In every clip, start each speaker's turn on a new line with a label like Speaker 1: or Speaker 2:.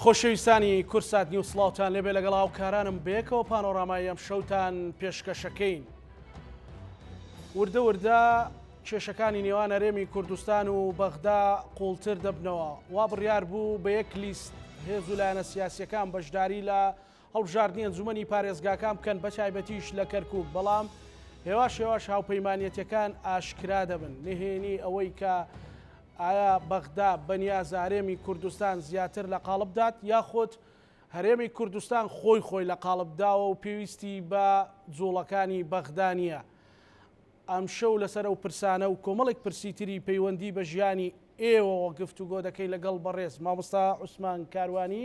Speaker 1: خۆشەویستانی کورسات نیو سڵاوتان لێبێ لەگەڵ هاوکارانم بەیەکەوە پانۆڕامای ئەم شەوتان پێشکەشەکەین. وردە وردە کێشەکانی نێوان هەرێمی کوردستان و بەغدا قوڵتر دەبنەوە. وا بڕیار بوو بە یەک لیست هێز و لایەنە سیاسیەکان بەشداری لە هەڵبژاردنی ئەنجومەنی پارێزگاکان بکەن بەتایبەتیش لە کەرکوک بەڵام هێواش هێواش هاوپەیمانەتەکان ئاشکرا دەبن نهێنی ئەوەی کە ئایا بەغدا بەنیاز هەرێمی کوردستان زیاتر لە قاڵب دات یاخود هەرێمی کوردستان خۆی خۆی لە قاڵب داوە و پێویستی بە جوڵەکانی بەغدانە ئەم شەو لەسەر ئەو پرسانە و کۆمەڵێک پرسی تری پەیوەندی بە ژیانی ئێوەوە گفتوگۆ دەکەی لەگەڵ بەڕێز مامۆستا عوسمان کاروانی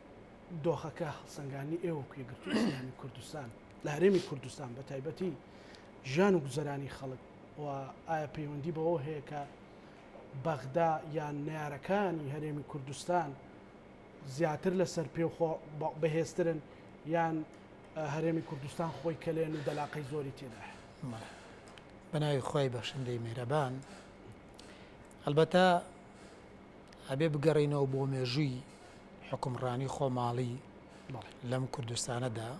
Speaker 1: دۆخەکە هەڵسەنگاندنی ئێوە و یەکگرتووی ئیسلامی کوردستان لە هەرێمی کوردستان بە تایبەتی ژیان و گوزەرانی خەڵک و ئایا پەیوەندی بەوە هەیە کە بەغدا یان نارەکانی هەرێمی کوردستان زیاتر لەسەر پێ بەهێزترن یان هەرێمی کوردستان خۆی کەلێن و دەلاقەی زۆری تێدا
Speaker 2: بەناوی خی بەخشندەی مێرەبان هەلبەتە ئەبێ بگەڕێینەوە بۆ مێژووی حوکمڕانی خۆماڵی لەم کوردستانەدا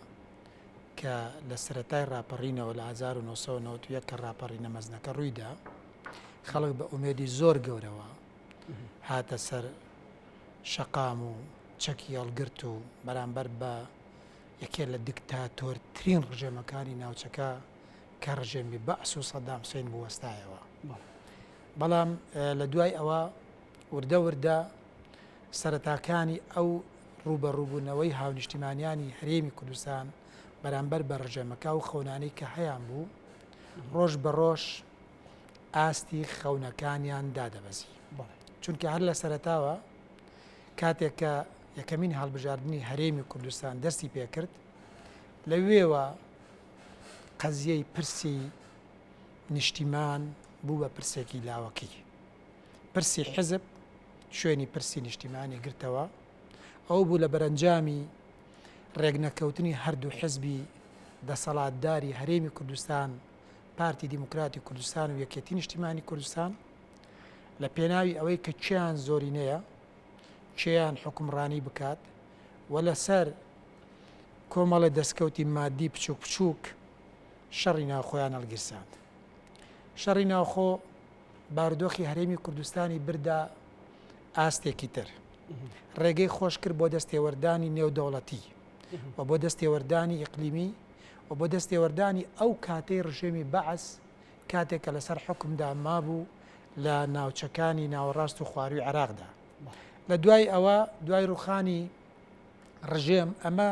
Speaker 2: کە لە سەرەتای ڕاپەڕینەوە لە 1991 کە ڕاپەڕینە مەزنەکە ڕوویدا خەڵک بە ئومێدی زۆر گەورەوە هاتە سەر شەقام و چەکی هەڵگرت و بەرامبەر بە یەکێ لە دیکتاتۆرترین ڕژێمەکانی ناوچەکە کە ڕژێمی بەعس و سەدام حسین بوەستایەوە بەڵام لە دوای ئەوە وردە وردە سەرەتاکانی ئەو ڕووبەڕووبوونەوەی هاونیشتیمانیانی هەرێمی کوردستان بەرامبەر بە ڕژێمەکە و خەونانەی کە هەیان بوو ڕۆژ بە ڕۆژ ئاستی خەونەکانیان دادەبەزی چونکە هەر لە سەرتاوە کاتێک کە یەکەمین هەڵبژاردننی هەرێمی کوردستان دەستی پێکرد لەوێوە قەزیەی پرسی نیشتیمان بوو بە پرسێکی لاوەکی. پرسی حیزب شوێنی پرسی نیشتیمانی گرتەوە، ئەوە بوو لە بەرەنجامی رێکنەکەوتنی هەردوو حیزبی دەسەڵاتداری هەرێمی کوردستان، پارتی دیموکراتی کوردستان و یەکێتی نیشتیمانی کوردستان، لە پێناوی ئەوەی کە کێیان زۆرینەیە، کێیان حوکمڕانی بکات و لەسەر کۆمەڵە دەستکەوتی مادی بچووک بچووک، شەڕی ناوخۆیان هەڵگیرساند. شەڕی ناوخۆ بارودۆخی هەرێمی کوردستانی بردا ئاستێکی تر. ڕێگەی خۆش کرد بۆ دەستێوەردانی نێودەوڵەتی و بۆ دەستێوەردانی ئیقلیمی و بۆ دەستێوەردانی ئەو کاتەی ڕژێمی بەعس کاتێک کە لەسەر حکمدا مابوو لە ناوچەکانی ناوەڕاست و خواروی عراقدا لە دوای ئەوە دوای ڕوخانی ڕژێم، ئەمە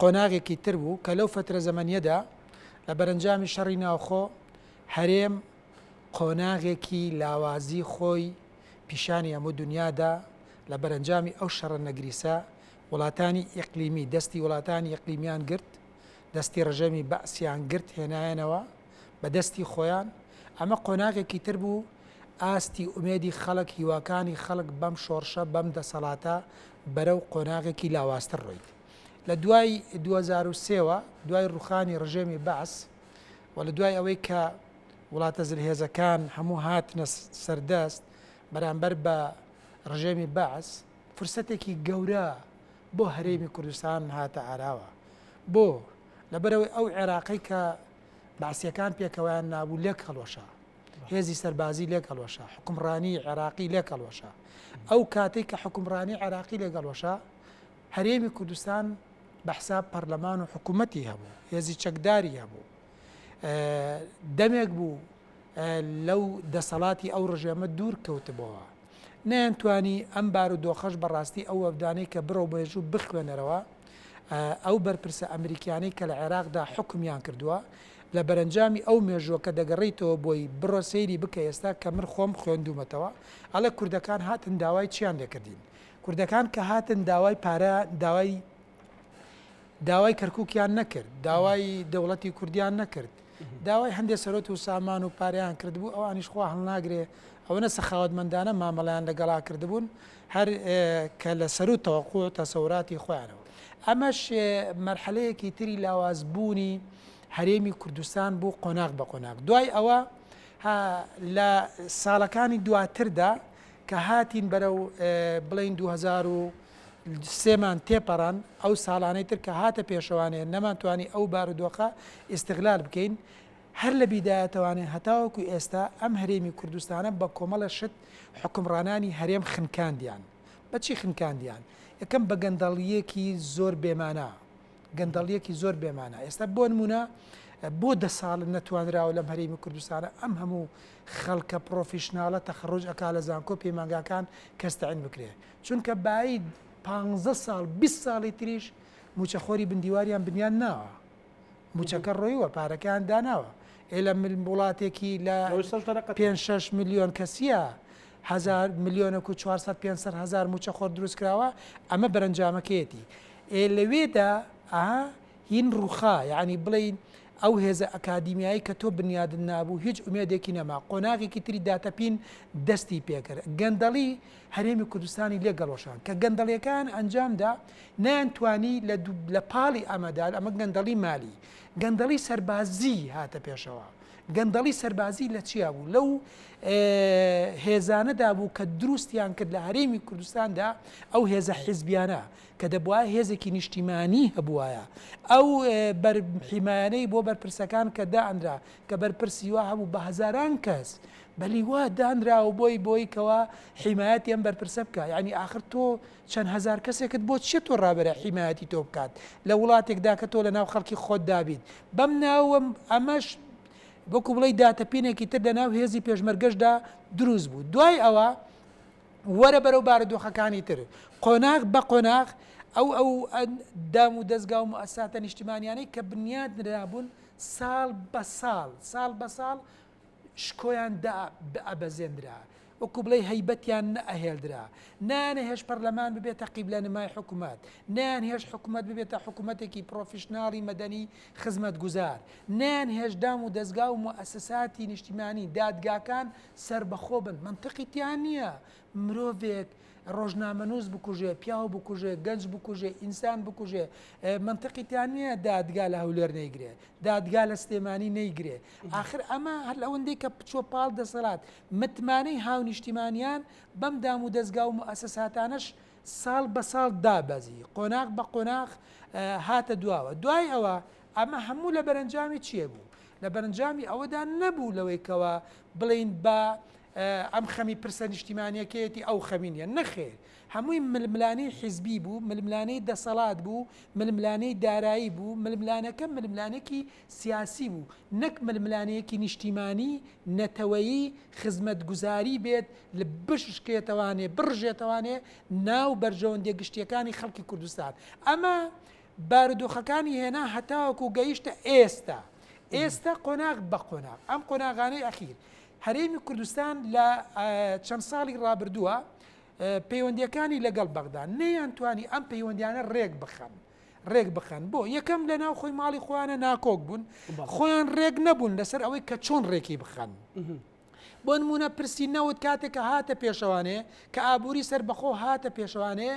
Speaker 2: قۆناغێکی تر بوو کە لەو فەترە زەمەنیەدا لە بەرەنجامی شەڕی ناوخۆ هەرێم قۆناغێکی لاوازی خۆی پیشانی هەموو دنیادا لە بەرەنجامی ئەو شەڕە نەگریسە وڵاتانی ئیقلیمی دەستی وڵاتانی ئەقلیمیان گرت دەستی ڕژێمی بەعسیان گرت هێنایەنەوە بە دەستی خۆیان ئەمە قۆناغێکی تر بوو ئاستی ئومێدی خەڵک هیواکانی خەڵک بەم شۆڕشە بەم دەسەڵاتە بەرەو قۆناغێکی لاوازتر ڕۆیت. لە دوای دوو هەزار و سێ وە، دوای ڕووخانی ڕژێمی بەعس و لە دوای ئەوەی کە وڵاتە زلهێزەکان هەموو هاتنە سەردەست بەرامبەر بە ڕژێمی بەعس، فرسەتێکی گەورە بۆ هەرێمی کوردستان هاتە ئاراوە. بۆ؟ لەبەرئەوەی ئەو عێراقەی کە بەعسییەکان پێکەوەیان نابوو لێک هەڵوەشا. هێزی سەربازی لێک هەڵوەشا، حوکمڕانیی عێراقی لێک هەڵوەشا. ئەو کاتەی کە حوکمڕانیی عێراقی لێک هەڵوەشا، هەرێمی کوردستان بە حساب پەرلەمان و حکوومەتی هەبوو، هێزی چەکداری هەبوو. دەمێک بوو لەو دەسەڵاتی ئەو ڕژێمە دوور کەوتبۆوە. نەیانتوانی ئەم بارودۆخەش بەڕاستی ئەو وەبدانەی کە بڕۆ مێژوو بخوێنەرەوە ئەو بەرپرسە ئەمریکیانەی کە لە عێراقدا حوکمیان کردووە لە بەرەنجامی ئەو مێژووە کە دەگەڕیتەوە بۆی بڕۆ سەیری بکە ئێستا کە من خۆم خوێندوومەتەوە ئەڵێ کوردەکان هاتن داوای چیان لێکردین کوردەکان کە هاتن داوای پارە داوای داوای کەرکووکیان نەکرد داوای دەوڵەتی کوردیان نەکرد داوای هەندێ سەروەت و سامان و پارەیان کردبوو، ئەوانیش خوا هەڵناگرێ ئەوەنە سەخاوەتمەندانە مامەڵەیان لەگەڵا کردبوون، هەر کە لە سەروو تەوەقوع و تەسەوراتی خۆیانەوە. ئەمەش مەرحەلەیەکی تری لاواز بوونی هەرێمی کوردستان بوو قۆناغ بە قۆناغ. دوای ئەوە ها لە ساڵەکانی دواتردا کە هاتین بەرەو بڵێین دوو هەزار و سێمان تێپەڕاند، ئەو ساڵانەی تر کە هاتە پێشەوانێ نەمانتوانی ئەو بارودۆخە ئیستغلال بکەین، هەر لە بیدایەتەوانێ هەتاوەکو ئێستا ئەم هەرێمی کوردستانە بە کۆمەڵە شت حوکمڕانانی هەرێم خنکاندیان، بە چی خنکاندیان؟ یەکەم بە گەندەڵییەکی زۆر بێ مانا، گەندەڵییەکی زۆر بێ مانا، ئێستا بۆ نموونە بۆ دە ساڵ نەتوانراوە لەم هەرێمی کوردستانە ئەم هەموو خەڵکە پڕۆفیشناڵە تەخەڕوج ئەکا لە زانکۆ پەیمانگاکان کەس تەعین بکرێ؟ چونکە بایید پانزە ساڵ بیست ساڵی تریش موچەخۆری بن دیواریان بنیاد ناوە موچەکە ڕۆیوە پارەکەیان داناوە ئێ لە وڵاتێکی لە پێنج شەش ملیۆن کەسیە هەزار ملیۆنەک و چوار سەد پێنج سەد هەزار موچەخۆر دروست کراوە ئەمە بەرەنجامەکەیەتی ئێ لەوێدا ئەها هین ڕووخا یعنی بڵین ئەو هێزە ئەکادیمیایی کە تۆ بنیادت نابوو هیچ ئومێدێکی نەما قۆناغێکی تری داتەپین دەستی پێکرد گەندەڵی هەرێمی کوردستانی لێک گەڵۆشاند کە گەندەڵیەکەیان ئەنجام دا نەیان توانی لە لە پاڵی ئەمەدا ئەمە گەندەڵی مالی گەندەڵی سەربازی هاتە پێشەوە گەندەڵی سەربازی لە چیا بوو لەو هێزانەدا بوو کە دروستیان کرد لە هەرێمی کوردستاندا ئەو هێزە حیزبیانە کە دەبواە هێزێکی نیشتیمانی هەبوایە ئەو بەرحیمایانەی بۆ بەرپرسەکان کە دائەنرا کە بەرپرسیوا هەبوو بە هزاران کەس بە لیوا دانراوە بۆی بۆی کەوا حیمایەتی ئەم بەرپرسە بکە یعنی ئاخر تۆ چەند هزار کەسێکت بۆ چیە تۆ ڕابرە حیمایەتی تۆ بکات لە وڵاتێکدا کە تۆ لە ناو خەڵکی خۆت دابیت بەم ناوەم ئەمەش وەکو بڵی داتەپینێکی تر لە ناو هێزی پێشمەرگەشدا دروست بوو دوای ئەوە وەرە بەرەو بارودۆخەکانی تر قۆناغ بە قۆناغ ئەو ئەو دام و دەستگا و ئەساتە نیشتیمانیانەی کە بنیاد نرابوون ساڵ بە ساڵ ساڵ بە ساڵ شکۆیان دا بئەبەزێنرا، وەکو بڵێی هەیبەتیان نەئەهێلدرا، نەیانەهێشت پەرلەمان ببێتە قیبلەنمای حکومەت، نەیانهێشت حکومەت ببێتە حکومەتێکی پڕۆفیشناڵی مەدەنی خزمەتگوزار، نەیانهێشت دام و دەزگا و موئەسساتی نیشتیمانی، دادگاکان سەربەخۆ بن، مەنتقی تیا نیە، مرۆڤێک ڕۆژنامەنووس بکوژێ، پیاو بکوژێ، گەنج بکوژێ، ئینسان بکوژێ، مەنتقی تیا نییە دادگا لە هەولێر نەیگرێ، دادگا لە سلێمانی نەیگرێ، ئاخر ئەمە هەر ئەوەندەی کە بچووە پاڵ دەسەلات، متمانەی هاونیشتیمانیان بەم دامودەزگا و موئەسەساتانەش ساڵ بە ساڵ دابەزی، قۆناغ بە قۆناغ هاتە دواوە. دوای ئەوە ئەمە هەموو لە بەرەنجامی چییە بوو؟ لە بەرەنجامی ئەوەدا نەبوو لەوەی کەوا بڵێین با ئەم خەمی پرسە نیشتیمانیەکەیەتی ئەو خەمی نیە. نەخێر هەمووی ململانێی حیزبی بوو، ململانێی دەسەڵات بوو، ململانێی دارایی بوو، ململانەکە ململانێکی سیاسی بوو نەک ململانێیەکی نیشتیمانی، نەتەوەیی، خزمەتگوزاری بێت بشکێتەوانێ، بڕژێتەوانێ ناو بەرژەوەندیە گشتیەکانی خەڵکی کوردستان. ئەمە بارودۆخەکانی هێنا هەتاوەکو گەیشتە ئێستا. ئێستا قۆناغ بە قۆناغ ئەم قۆناغانەی ئەخیر هەرێمی کوردستان لە چەند ساڵی ڕابردووە پەیوەندیەکانی لەگەڵ بەغدا نەیان توانی ئەم پەیوەندیانە ڕێک بخەن ڕێک بخەن بۆ یەکەم لە ناو خۆی ماڵی خۆیانە ناکۆک بوون خۆیان ڕێک نەبوون لەسەر ئەوەی کە چۆن ڕێکی بخەن. بۆ نمونە پرسی نەوت کاتێک کە هاتە پێشەوانێ کە ئابووری سەر بەخۆ هاتە پێشەوانێ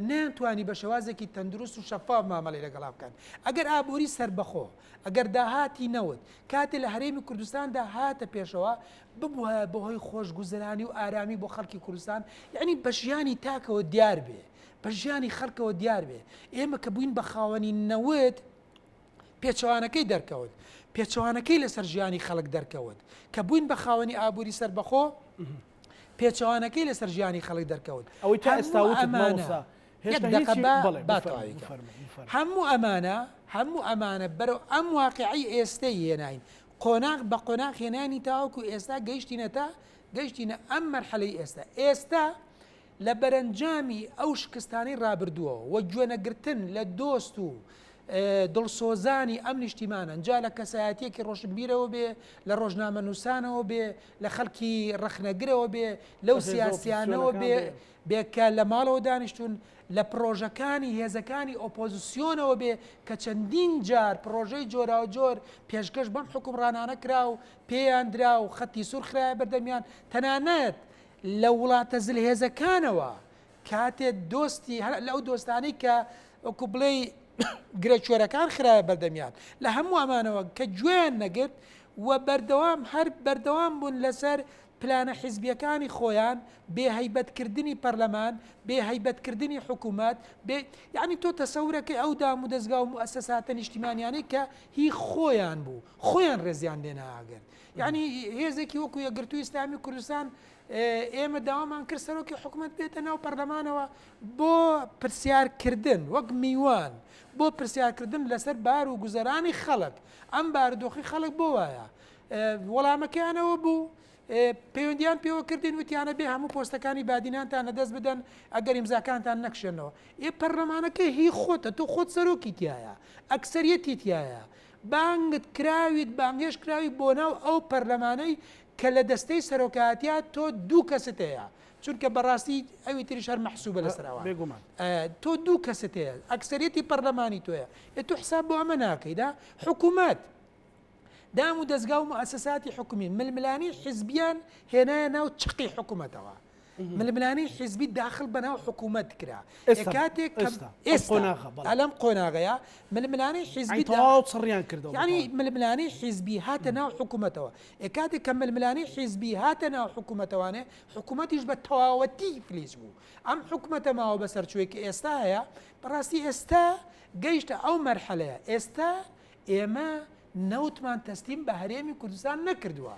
Speaker 2: نەیانتوانی بە شێوازێکی تەندروست و شەفاف مامەڵی لەگەڵا بکەن ئەگەر ئابووری سەر بەخۆ ئەگەر داهاتی نەوت، کاتێ لە هەرێمی کوردستاندا هاتە پێشەوە، ببوایە بەهۆی خۆشگوزەرانی و ئارامی بۆ خەڵکی کوردستان، یەعنی بە ژیانی تاکەوە دیار بێ، بە ژیانی خەڵکەوە دیار بێ، ئێمە کە بووین بە خاوەنی نەوت، پێچەوانەکەی دەرکەوت، پێچەوانەکەی لەسەر ژیانی خەڵک دەرکەوت، کە بووین بە خاوەنی ئابووری سەربەخۆ، پێچەوانەکەی لەسەر ژیانی خەڵک دەرکەوت ئەوەی تا ئێستا وتت
Speaker 1: مامۆستا هێشتا هیچی بەڵێ با تەواوی کەم
Speaker 2: هەموو ئەمانە هەموو ئەمانە بەرەو ئەم واقعی ئێستەی هێناین قۆناغ بە قۆناغ هێنانی تاوەکو ئێستا گەیشتینەتە گەیشتینە ئەم مەرحەلەی ئێستا ئێستا لە بەرەنجامی ئەو شکستانەی رابردووەوە و گوێ نەگرتن لە دۆست و دڵسۆزانی ئەم نیشتیمانەن، جا لە کەسایەتییەکی رۆشنبیرەوە بێ، لە رۆژنامەنووسانەوە بێ، لە خەڵکی رەخنەگرەوە بێ، لەو سیاسییانەوە بێ کە لە ماڵەوە دانیشتوون، لە پڕۆژەکانی هێزەکانی ئۆپۆزسیۆنەوە بێ کە چەندین جار پڕۆژەی جۆراوجۆر پێشکەش بەم حوکمڕانانە کرا و پێیان درا و خەتی سوور خرایە بەردەمیان، تەنانەت لە وڵاتە زلهێزەکانەوە کاتێ دۆستی هەر لەو دۆستانەی کە وەکو بڵێ گرێچۆرەکان خراە بەردەمیان لە هەموو ئەمانەوە کە گوێیان نەگرت و بەردەوام هەر بەردەوام بوون لەسەر پلانە حیزبیەکانی خۆیان بێهیبەتکردنی پەرلەمان بێهیبەتکردنی حکوومەت بێ یعنی تۆ تەسەورەکەی ئەو دام و دەستگا و موسەساتە نیشتیمانیانەی کە هی خۆیان بوو خۆیان ڕێزیان لێناگرن یانی هێزێکی وەکو یەکگرتووی ئیسلامی کوردستان ئێمە داوامان کرد سەرۆکی حکوومەت بێتە ناو پەرلەمانەوە بۆ پرسیارکردن وەک میوان بۆ پرسیارکردن لەسەر بار و گوزەرانی خەڵک ئەم بارودۆخی خەڵک بۆ وایە وەڵامەکەیانەوە بوو پەیوەندیان پێوە کردین وتیانە بێ هەموو پۆستەکانی بادینانتان نەدەست بدەن ئەگەر ئیمزاکانتان نەکشێنەوە ئێ پەرلەمانەکە هی خۆتە تۆ خۆت سەرۆکی تایە ئەکسریەتی تایە بانگت کراویت بانگهێشت کراوی بۆ ناو ئەو پەرلەمانەی کە لە دەستەی سەرۆکایەتیا تۆ دوو کەست هەیە چونکە بەڕاستی ئەوی تریش هەر مەحسوبە لەسەر ئەوان تۆ دوو کەست هەیە ئەکسەریەتی پەرلەمانی تۆیە ئێ تۆ حساب بۆ ئەمە ناکەیدا حکوومەت دام و دەستگا و مؤسساتی حکومی ململانی حزبیان هێنایە ناو چقی حکوومەتەوە ململانەی حیزبی داخل بەناو حکوومەت کرا کاتێک ئەلم قۆناغەیە ململانەی حیزبی تەواوڕیان کرد
Speaker 1: ینی ململانەی
Speaker 2: حیزبی هاتە ناو حکوومەتەوە ئێ کاتێک کە ململانەی حیزبی هاتە ناو حکوومەتەوانێ حکوومەتیش بە تەواوەتی فلیج بوو ئەم حکوومەتە ماوە بەسەر چوێکی ئێستا هەیە بەڕاستی ئێستا گەیشتە ئەو مەرحەلەیە ئێستا ئێمە نەوتمان تەستیم بە هەرێمی کوردستان نەکردووە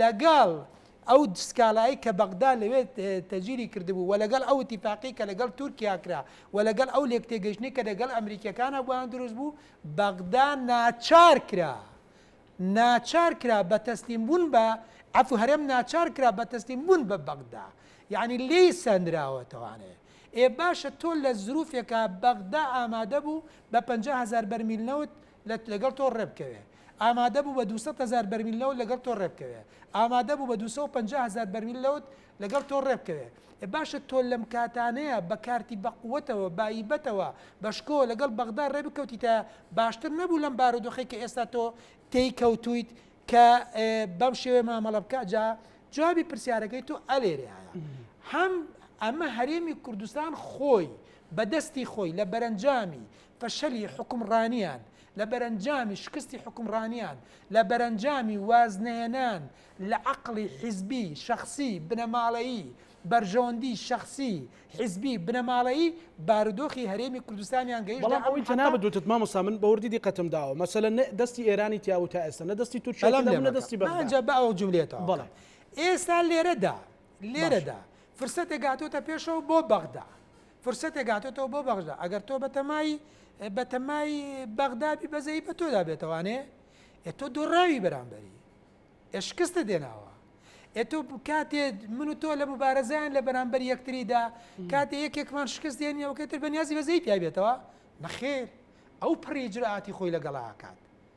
Speaker 2: لەگەڵ ئەو سکاڵایەی کە بەغدا لەوێ تەجیری کردبوو و لەگەڵ ئەو ئیتیفاقی کە لەگەڵ تورکیا کرا و لەگەڵ ئەو لێکتێگەیشتنەی کە لەگەڵ ئەمریکییەکانا بۆیان دروست بوو، بەغدا ناچار کرا ناچار کرا بە تەسلیم بوون بە عەفو هەرێم ناچار کرا بە تەسلیم بوون بە بەغدا یەعنی لێی سەندراوەتەوانێ ئێ باشە تۆ لە زروفێکا بەغدا ئامادە بوو بە پەنجا هەزار بەرمیل نەوت لەت لەگەڵ تۆ ڕێبکەوێ ئامادە بوو بە دوو سەد هەزار بەرمیل نەوت لەگەڵ تۆ ڕێبکەوێ ئامادە بوو بە دوو سەد و پەنجا هەزار بەرمیل لەوت لەگەڵ تۆ ڕێبکەوێ ئێ باشە تۆ لەم کاتانەیە بە کارتی بە قوەتەوە بایبەتەوە بە شکۆوە لەگەڵ بەغدا ڕێ بکەوتیتایە باشتر نەبوو لەم بارودۆخەی کە ئێستا تۆ تێی کەوتویت کە بەم شێوەیە مامەڵە بکە جا جوابی پرسیارەکەی تۆ ئەلێرەیایە هەم ئەمە هەرێمی کوردستان خۆی بە دەستی خۆی لە بەرەنجامی فەشەلی حوکمڕانیان، لە بەرەنجامی شکستی حوکمڕانیان، لە بەرەنجامی وازنەهێنان لە عەقڵی حیزبی، شەخسی، بنەماڵەیی، بەرژەوەندی شەخسی، حیزبی، بنەماڵەیی، بارودۆخی هەرێمی کوردستانیان گەیشتە ئەم حەدە، بەڵام ئەوەی جەنابت وتت
Speaker 1: مامۆستا من بە وردی دیقەتم داوە، مەسەلەن نە دەستی ئێرانی تیابوو تا ئێستا، نە دەستی تورکیای تیابوو، نە دەستی بەغدا. بەڵام لێم مەکە، با ئەو جوملەیە
Speaker 2: تەواو بکەم. ئێستا لێرەدا، لێرەدا فرسەتێک هاتۆتە پێشەوە بۆ بەغدا. فرسەتێک هاتۆتەوە بۆ بەغژدا ئەگەر تۆ بەتەمای بەتەمای بەغدابی بەزەی بە تۆدا بێتەوانێ ئێ تۆ دۆڕاوی بەرامبەری ئێ شکستە دێناوە ئێ تۆ کاتێ من و تۆ لە مبارەزیان لە بەرامبەر یەکتریدا کاتێ یەکێکمان شکست دێنیەوە کەتر بەنیازی بەزەی پیابێتەوە نەخێر ئەو پڕی جرعاتی خۆی لەگەڵا کات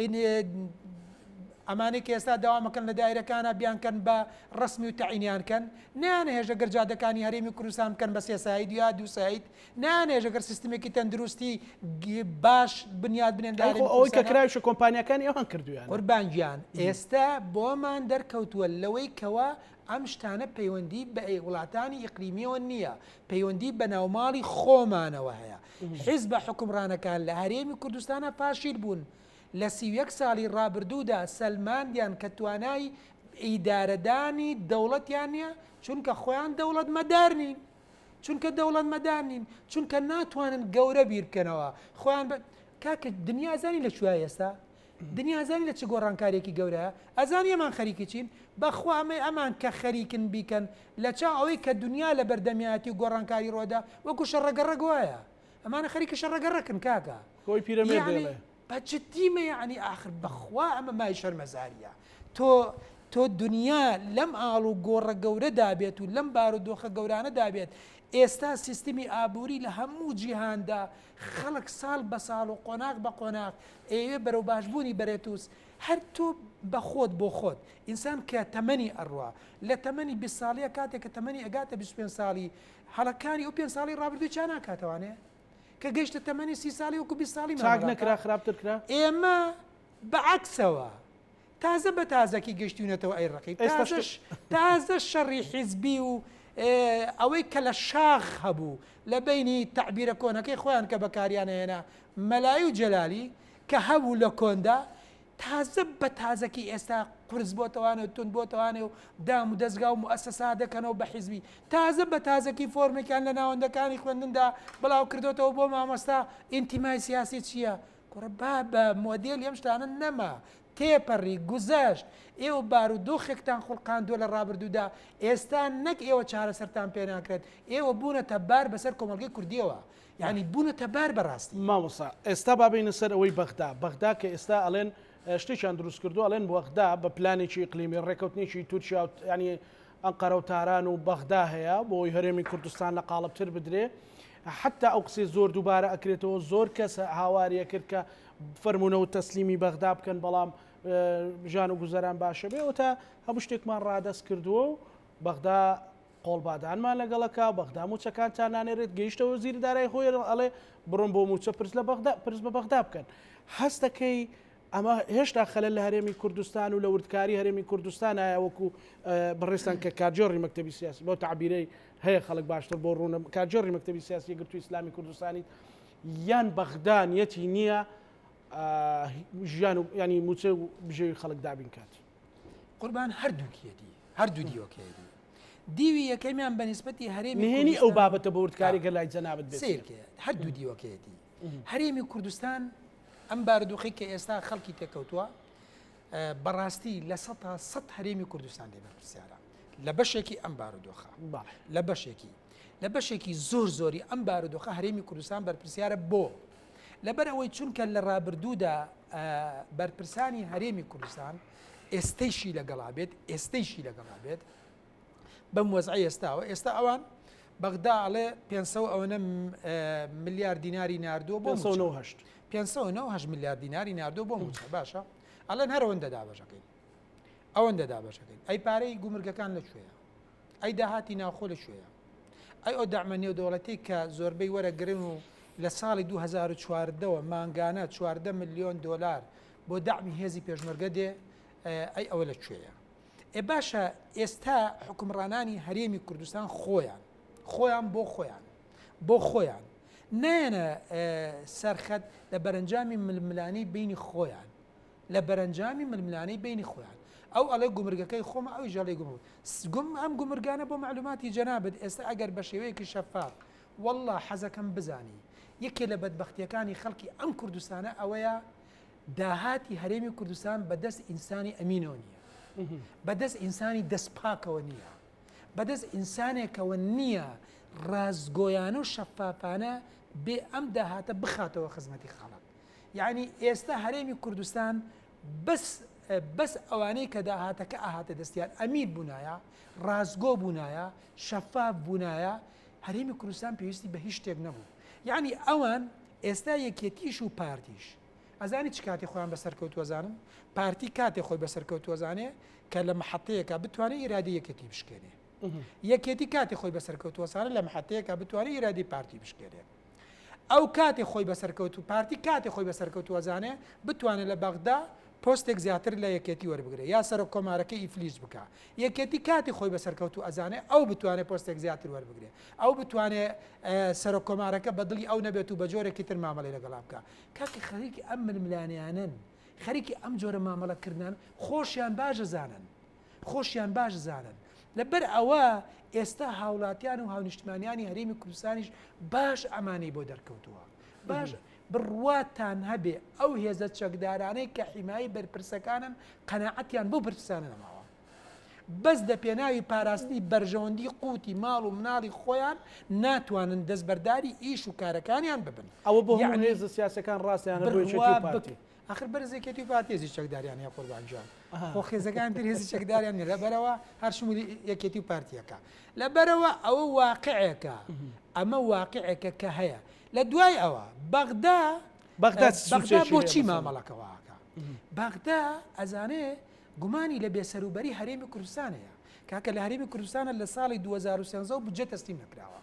Speaker 2: ئینجا ئەمانەی کە ئێستا داوام ئەکەن لە دایرەکانا بیانکەن بە ڕەسمی و تەعینیان کەن، نایانهێژە گەر جادەکانی هەرێمی کوردستان بکەن بە سێ سایت یا دوو سایت، نایانهێژە گەر سیستمێکی تەندروستی باش بنیات بنێن لە هەرێمی کوردستانا. ئەی خۆ ئەوەی کە کراویش و
Speaker 1: کۆمپانیاکانی ئەوان کردوویانە. قوربان گیان ئێستا
Speaker 2: بۆمان دەرکەوتووە لەوەی کەوە ئەم شتانە پەیوەندی بە وڵاتانی ئیقلیمییەوە نییە، پەیوەندی بە ناوماڵی خۆمانەوە هەیە، حیزبە حوکمڕانەکان لە هەرێمی کوردستانا فاشیل بوون، لە سی و یەک ساڵی ڕابردوودا سەلماندیان کە توانای ئیدارەدانی دەوڵەتیان نییە، چونکە خۆیان دەوڵەتمەدار نین، چونکە دەوڵەتمەدار نین، چونکە ناتوانن گەورە بیر بکەنەوە، خۆیان بە. کاکە دنیا زانی لە کوێیە ئێستا؟ دنیا ئەزانی لە چ گۆڕانکاریەکی گەورەیە؟ ئەزانی ئەمان خەریکی چین؟ بەخوا ئەمەی ئەمان کە خەریکن بیکەن لە چاو ئەوەی کە دنیا لە بەردەمیایەتی و گۆڕانکاری ڕوەدا وەکو شەڕەگەڕەک وایە ئەمانە خەریکی شەڕەگەڕەکن کاکە خۆی پیرەمێردە یەعنی
Speaker 1: ئەڵێ. بە جدیمە
Speaker 2: یەعنی ئاخر بەخوا ئەمە مای شەرمەزاریە تۆ تۆ دنیا لەم ئاڵ و گۆڕە گەورەدا بێت و لەم بارو دۆخە گەورانەدا بێت ئێستا سیستمی ئابوری لە هەموو جیهاندا خەڵک ساڵ بە ساڵ و قۆناغ بە قۆناغ ئەیەوێ بەرەو باشبوونی بەرێتوس هەر تۆ بەخۆت بۆ خۆت ئینسان کە تەمەنی ئەڕوا لە تەمەنی بیست ساڵیە کاتێک کە تەمەنی ئەگاتە بیست و پێنج ساڵی هەڵەکانی ئەو پێنج ساڵی ڕابردووی چا ناکاتەوانێ کە گەیشتە تەمەنی سی ساڵی وەکو بیست ساڵی چاک نەکرا خراپتر
Speaker 1: کرا ئێمە
Speaker 2: بەعەکسەوە تازە بە تازەکی گەشتیونەتەوە ئەی ڕقی تازەش تازە شەڕی حیزبی و ئەوەی کە لە شاخ هەبوو لە بەینی تەعبیرە کۆنەکەی خۆیان کە بەکاریان ئەهێنا مەلایی و جەلالی کە هەبوو لە کۆندا تازە بە تازەکی ئێستا قورس بۆتەوانێ و تون بۆتەوانێ و دام و دەستگا و موسسا دەکەنەوە بە حیزبی تازە بە تازەکی فۆرمێکیان لە ناوەندەکانی خوێندندا بڵاو کردوتەوە بۆ مامۆستا ئینتیمای سیاسی چییە کوڕە با بە مۆدێلی ئەم شتانە نەما تێپەڕی گوزەشت ئێوە بارو دۆخێکتان خوڵقاندووە لە ڕابردوودا ئێستا نەک ئێوە چارەسەرتان پێ ناکرێت ئێوە بوونە تە بار بەسەر کۆمەلگەی کوردیەوە یعنی بوونە تە بار بەڕاستی. مامۆستا ئێستا
Speaker 1: با بێینە سەر ئەوەی بەغدا بەغدا کە ئێستا ئەلێن شتێکیان دروست کردووە ئەلێن بەغدا بە پلانێکی ئیقلیمی ڕێکەوتنێکی تورکیا یعنی ئەنقەرە و تاران و بەغدا هەیە بۆ ئەوەی هەرێمی کوردستان لە قاڵب تر بدرێ حتا ئەو قسەی زۆر دووبارە ئەکرێتەوە زۆر کەس هاواری ئەکرد کە فەرمونەوە تەسلیمی بەغدا بکەن بەڵام ژان و گوزەران باشە بێ و تا هەموو شتێکمان ڕادەست کردووە و بەغدا قۆڵبادانمان لەگەڵەکە بەغدا موچەکان تا نانێرێت گەیشتەوە زیر دارای خۆی ئەڵێ بڕم بۆ موچە پرس لە بەغدا پرس بە بەغدا بکەن هەستەکەی ئەمە هێشتا خەلەل لە هەرێمی کوردستان و لە وردکاری هەرێمی کوردستان هەیە وەکو بەڕێزتان کە کارگێڕی مەکتەبی سیاسی بەو تەعبیرەی هەیە خەڵک باشتر بۆ ڕوونە کارگێڕی مەکتەبی سیاسی یەکگرتووی ئیسلامی کوردستانیت یان بەغدا نیەتی نییە ژیان و ینی موچە و بژێوی خەڵک دابین کات قوربان
Speaker 2: هەردووکیەتی هەردوو دیۆکەیەتی دیوی یەکەمیان بە نسبەتی هەرێمی نهێنی ئەو بابەتە بە
Speaker 1: وردکاریگە لای جەنابەت سیرکە هەردوو دیوەکەیەتی
Speaker 2: هەرێمی کوردستان ئەم بارودۆخەی کە ئێستا خەڵکی تێکەوتووە بەڕاستی لە سە تا سە هەرێمی کوردستان لێ بەرپسیارە لە بەشێکی ئەم بارودۆخە لە بەشێکی لە بەشێکی زۆر زۆری ئەم بارودۆخە هەرێمی کوردستان بەرپسیارە بۆ لەبەر ئەوەی چونکە لە ڕابردوودا بەرپرسانی هەرێمی کوردستان ئێستەیشی لەگەڵا بێت ئێستەیشی لەگەڵا بێت بەم وەزعەی ئێستاوە ئێستا ئەوان بەغدا ئەڵێ پێ ئەوەنە ملیار دیناری نردووە بۆ پێ ملیار دیناری نردووە بۆ موچە باشە ئەڵێن هەرەوەندە دابەشەکەین ئەوەندە دابەشەکەین ئەی پارەی گومرگەکان لە کوێە ئەی داهاتی ناوخۆ لە کوێە ئەی ئەو دامە نێودەوڵەتی کە زۆربەی وەرەگرن و لە ساڵی 2014ەوە مانگانە 14 میلیۆن دلار بۆ دامی هێزی پێشمەرگە دێ ئەی ئەوە لە کوێە ئێ باشە ئێستا حوکمڕانانی هەرێمی کوردستان خۆیان خۆیان بۆ خۆیان بۆ خۆیان نایەنە سەرخەت لە بەرەنجامی ململانی بینی خۆیان لە بەرەنجامی ململانی بینی خۆیان ئەو ئەڵێ گومرگەکەی خۆمە ئەوی ژەڵی گوم گوم ئەم گومرگانە بۆ معلوماتی جەنابێت ئێستا ئەگەر بە شێوەیەکی شەفاف والله حەزەکەم بزانی یەکێ لە بەدبختیەکانی خەڵکی ئەم کوردستانە ئەوەیە داهاتی هەرێمی کوردستان بە دەست ئینسانی ئەمینەوە نییە، بە دەست ئینسانی دەست پاکەوە نییە، بە دەست ئینسانێکەوە نییە ڕاستگۆیانە و شەفافانە بێ ئەم داهاتە بخاتەوە خزمەتی خەڵک. یانی ئێستا هەرێمی کوردستان بەس بەس ئەوانەی کە داهاتەکە ئاهاتە دەستیان ئەمیر بوونایە، ڕاستگۆ بوونایە، شەفاف بوونایە، هەرێمی کوردستان پێویستی بە هیچ شتێک نەبوو. یانی ئەوان ئێستا یەکێتیش و پارتیش، ئەزانی چ کاتێ خۆیان بە سەرکەوتوو ئەزانن؟ پارتی کاتێ خۆی بە سەرکەوتوو ئەزانێ کە لە محەتەیەکە بتوانێت ئیرادی یەکێتی بشکێنێ. یەکێتی کاتێ خۆی بە سەرکەوتوو ئەزانێ لە محەتەیەکە بتوانێت ئیرادی پارتی بشکێنێ. ئەو کاتێ خۆی بە سەرکەوتوو پارتی کاتێ خۆی بە سەرکەوتوو ئەزانێ بتوانێت لە بەغدا پۆستێک زیاتر لە یەکێتی وەربگرێ یا سەرۆک کۆمارەکە ئیفلیج بکە. یەکێتی کاتی خۆی بە سەرکەوتوو ئەزانێ ئەو بتوانێت پۆستێک زیاتر وەربگرێ. ئەو بتوانێت سەرۆک کۆمارەکە بە دڵی ئەو نەبێت و بە جۆرێکی تر مامەڵەی لەگەڵا بکە. کاکە خەریکی ئەم ململانێیانەن خەریکی ئەم جۆرە مامەڵە کردنان خۆشیان باش ئەزانن خۆشیان باش ئەزانن لە بەر ئەوە ئێستا هاوڵاتیان و هاونیشتمانیانی هەرێمی کوردستانیش باش ئەمانەی بۆ دەرکەوتووە باش بڕواتان هەبێ ئەو هێزە چەکدارانەی کە حیمایی بەرپرسەکانن قەناعەتیان بەو بەرپرسانە نەماوە بەس لە پێناوی پاراستنی بەرژەوەندی قوتی ماڵ و مناڵی خۆیان ناتوانن دەستبەرداری ئیش و کارەکانیان ببن ئەوە بۆ هەموو هێزە
Speaker 1: سیاسەکان ڕاستیان ئەخر بەرزێکێتی
Speaker 2: و پارتێزی چەکداریان یا قوربانجان خۆ خێزەکان تر هێزی چەکداریان نە لەبەرەوە هەر شمولی یەکێتی و پارتیەکە لەبەرەوە ئەوە واقعەکە ئەمە واقعەکە کە هەیە لە دوای ئەوە بەغدا بەغدا بۆچی مامەڵەکەواکە بەغدا ئەزانێ گومانی لە بێسەروبەری هەرێمی کوردستان هەیە، کاکە لە هەرێمی کوردستانە لە ساڵی دوو هەزار و سێزدە و بودجە تەسلیم نەکراوە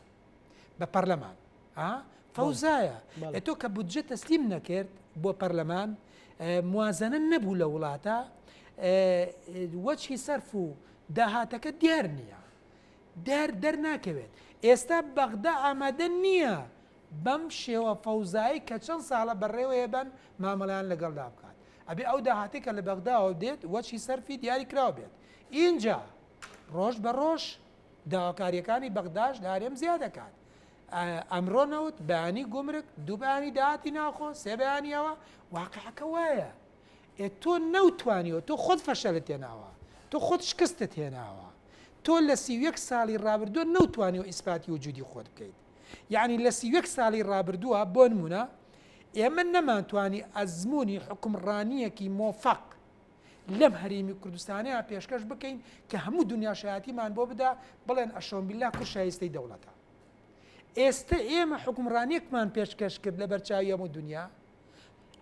Speaker 2: بە پەرلەمان ها فەوزایە ئە تۆ کە بودجە تەسلیم نەکرد بۆ پەرلەمان موازنە نەبوو لە وڵاتە وەچی سەرف و داهاتەکە دیار نییە دار دەرناکەوێت ئێستا بەغدا ئامادە نییە بەم شێوە فەوزایی کە چەند ساڵە بەڕێوەیە بەن مامەڵەیان لەگەڵدا بکات ئەبێ ئەو داهاتەی کە لە بەغداوە دێت وەچی سەرفی دیاری کراو بێت ئینجا ڕۆژ بە ڕۆژ داواکاریەکانی بەغداش هەرێم زیاد ئەکات ئەمڕۆ نەوت بەیانی گومرک دوو بەیانی داهاتی ناوخۆ سێ بەیانی ئەوە واقعەکە وایە ئێ تۆ نەوتوانیەوە تۆ خۆت فەشەلت هێناوە تۆ خۆت شکستت هێناوە تۆ لە سی و یەک ساڵی ڕابردووە نەوتوانیەوە ئیسپاتی وجودی خۆت بکەیت یەعنی لە سی و یەک ساڵی ڕابردووە بۆنموونە ئێمە نەمانتوانی ئەزموونی حوکمڕانییەکی مۆفەق لەم هەرێمی کوردستانەیە پێشکەش بکەین کە هەموو دنیا شایەتیمان بۆ بدا بڵێن ئەشۆمبیللا کور شایستەی دەوڵەتە ئێستا ئێمە حوکمڕانیەکمان پێشکەش کرد لە بەرچاوی هەموو دنیا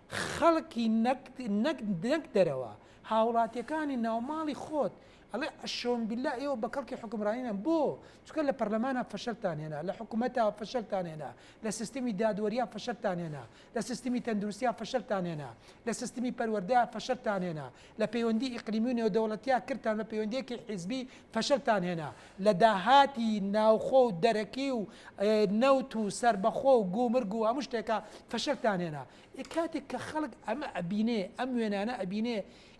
Speaker 2: خەڵکی نەک نەک نەک دەرەوە هاوڵاتیەکانی ناوماڵی خۆت ئەڵێ ئەشۆم بلا ئێوە بە کەڵکی حکومرانینە بۆ چکە لە پەرلەمانە فەشلتان هێنا لە حکوومەتە فەشلتان هێنا لە سیستمی دادوەریا فەشلتان هێنا لە سیستمی تەندروستیا فەشلتان هێنا لە سیستمی پەروەەردە فەشلتان هێنا لە پەیوەندی ئیقلیمی و نێودەوڵەتیا کردتان بە پەیوەندیەکی حیزبی فەشلتان هێنا لە داهاتی ناوخۆ و دەرەکی و نەوت و سەربەخۆ و گومرگ و هەموو شتێکە فەشلتان هێنا ئێ کاتێک کە خەڵک ئەمە ئەبینێ ئەم وێنانە ئەبینێ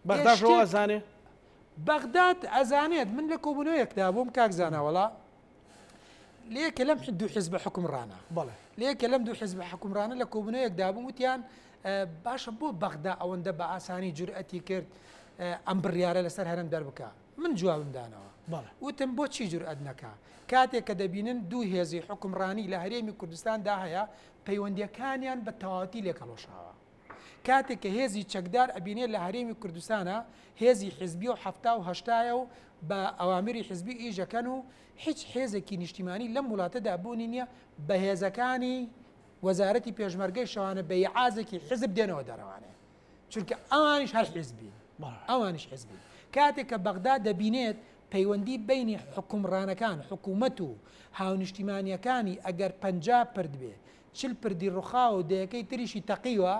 Speaker 2: بەغداش ئەو
Speaker 1: ئەزانێ بەغداد
Speaker 2: ئەزانێت من لە کۆبوونەوەیەکدا بووم کاک زانا وەڵا لەیەکە لەم دوو حزبە حکومڕانە بەڵێ لەیەکە لەم
Speaker 1: دوو حزبە
Speaker 2: حکومڕانە لە کۆبنەیەکدا بوو وتیان باشە بۆ بەغدا ئەوەندە بە ئاسانی جورئەتی کرد ئەم بڕیارە لەسەر هەرم دەربکە من جوابمدانەوە وتم بۆ چی جورئەت نەکە کاتێک کە دەبینن دوو هێزی حکومڕانی لە هەرێمی کوردستاندا هەیە پەیوەندیەکانیان بە تەواتی لێکەڵۆشاوە کاتێک کە هێزی چەکدار ئەبینێ لە هەرێمی کوردستانە هێزی حیزبیە و حەفتا و هەشتایە و بە ئەوامری حیزبی ئیش ئەکەن و هیچ هێزێکی نیشتیمانی لەم وڵاتەدا بوونی نیە بە هێزەکانی وەزارەتی پێشمەرگەی شەوانە بە ئیعازێکی حیزب دێنەوە دەرەوانێ چونکە ئەوانیش هەر حیزبین ئەوانیش حیزبین کاتێک کە بەغدا دەبینێت پەیوەندی بینی حکومڕانەکان حکوومەت و هاونیشتیمانیەکانی ئەگەر پەنجا پرد بێ چل پردی ڕوخاوە و دەیەکەی تریشی تەقیوە،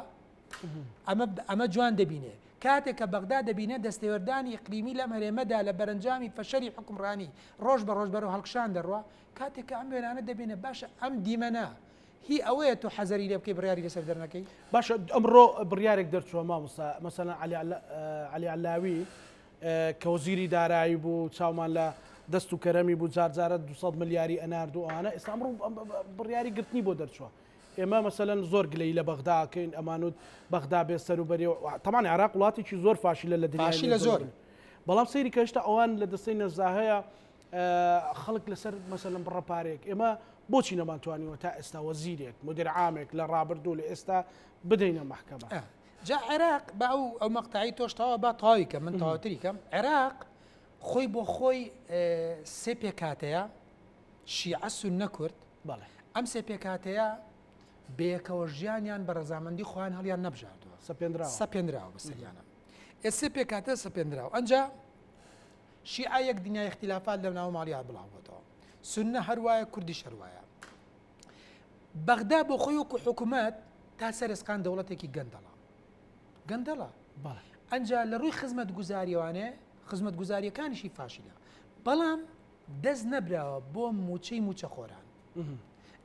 Speaker 2: ئەمە ئەمە جوان دەبینێ. کاتێک کە بەغدا دەبینێ دەستێوەردانی ئیقلیمی لەم هەرێمەدا لە بەرەنجامی فەشەلی حوکمڕانی ڕۆژ بە ڕۆژ بەرەو هەڵکشان دەڕوا، کاتێک کە ئەم وێرانە دەبینێ باشە ئەم دیمەنە هی ئەوەیە تۆ حەزەری لێ بکەی بڕیاری لەسەر دەرنەکەی؟ باشە ئەمڕۆ
Speaker 1: بڕیارێک دەرچووە مامۆستا، مەسەلەن عەلی عەلی عەلاوی کە وەزیری دارایی بوو چاومان لە دەست و کەرەمی بوو جار جارە دوو سەد ملیاری ئەنارد و ئەوانە ئێستا ئەمڕۆ بڕیاری گرتنی بۆ دەرچووە ئێمە مەسەلەن زۆر گلەی لە بەغدا ئەکەین ئەمانوت بەغدا بێ سەر و بەرێ و تەمان عێراق وڵاتێکی زۆر فاشلە لە دنیای فاشلە زۆر نێوزەرەوە.
Speaker 2: بەڵام سەیری کە
Speaker 1: هێشتا ئەوان لە دەستەی نەزدا هەیە ئە، خەڵک لەسەر مەسەلەن بڕە پارەیەک ئێمە بۆچی نەمانتوانیوە تا ئێستا وەزیرێک مودیر عامێک لە ڕابردوو لە ئێستا بدەینە مەحکەمە. جا عێراق
Speaker 2: با ئەو ئەو مەقتەعی تۆش تەوا با تەواوی کەم من تەواوتری کەم عێراق خۆی بۆ خۆی سێ پێکاتەیە شیعە سونە کورد بەڵێ ئەم سێ پێکاتەیە بەیەکەوە ژیانیان بە ڕزامەندی خۆیان هەڵیان نەبژاردووە سەپێنرا سەپێنراوە بەسەریانە ئێسێ پێکاتە سەپێنراوە ئەجا شیعە یەک دنیا اختلافات لە ناو ماڵیان بڵاوبەتەوە سنە هەروایە کوردی شەروایە بەغدا بۆ خۆی وەکو حکومەت تا سەر ئێسقان دەوڵەتێکی گەندەڵە گەندەڵە ئەجا لە ڕووی خزمەت گوزاریەوانێ خزمەت گوزاریەکانیشی فاشیلە بەڵام دەست نەبراوە بۆ موچەی موچە خۆران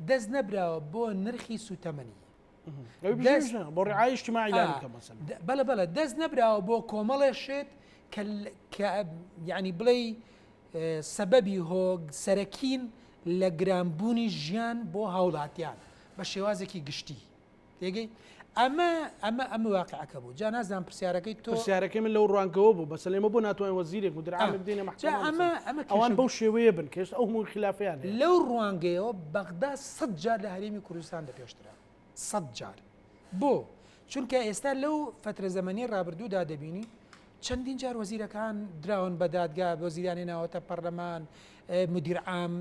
Speaker 2: دەست نەبراوە بۆ نرخی سوتەمەنی
Speaker 1: بۆ ڕعایشتمای بەلە بەلە
Speaker 2: دەست نەبراوە بۆ کۆمەڵێ شێت ینی بڵێ سەبەبی هۆگ سەرەکین لە گرانبوونی ژیان بۆ هاوڵاتیان بە شێوازێکی گشتی تێگەی ئەمە ئەمە ئەمە واقعەکە بوو جا نازان پرسیارەکەی تۆ سیارەکەی من لەو ڕوانکەوە
Speaker 1: بوو بەس لێمە بۆ ناتوان وەزیرێک و درامدەینە ئەمە ئەمە ئەوان بەو شێوەیە بن کەێشت ئەو هەموو خلافیان لەو ڕوانگەیەوە
Speaker 2: بەغدا سەد جار لە هەرێمی کوردستان دەپێش کرا سەد جار بۆ چونکە ئێستا لەو فترە زەمەنی ڕابردوودا دەبینی چەندین جار وەزیرەکان دراون بە دادگا بۆ زیرانی ناوەتە پەرلەمان مدیرعام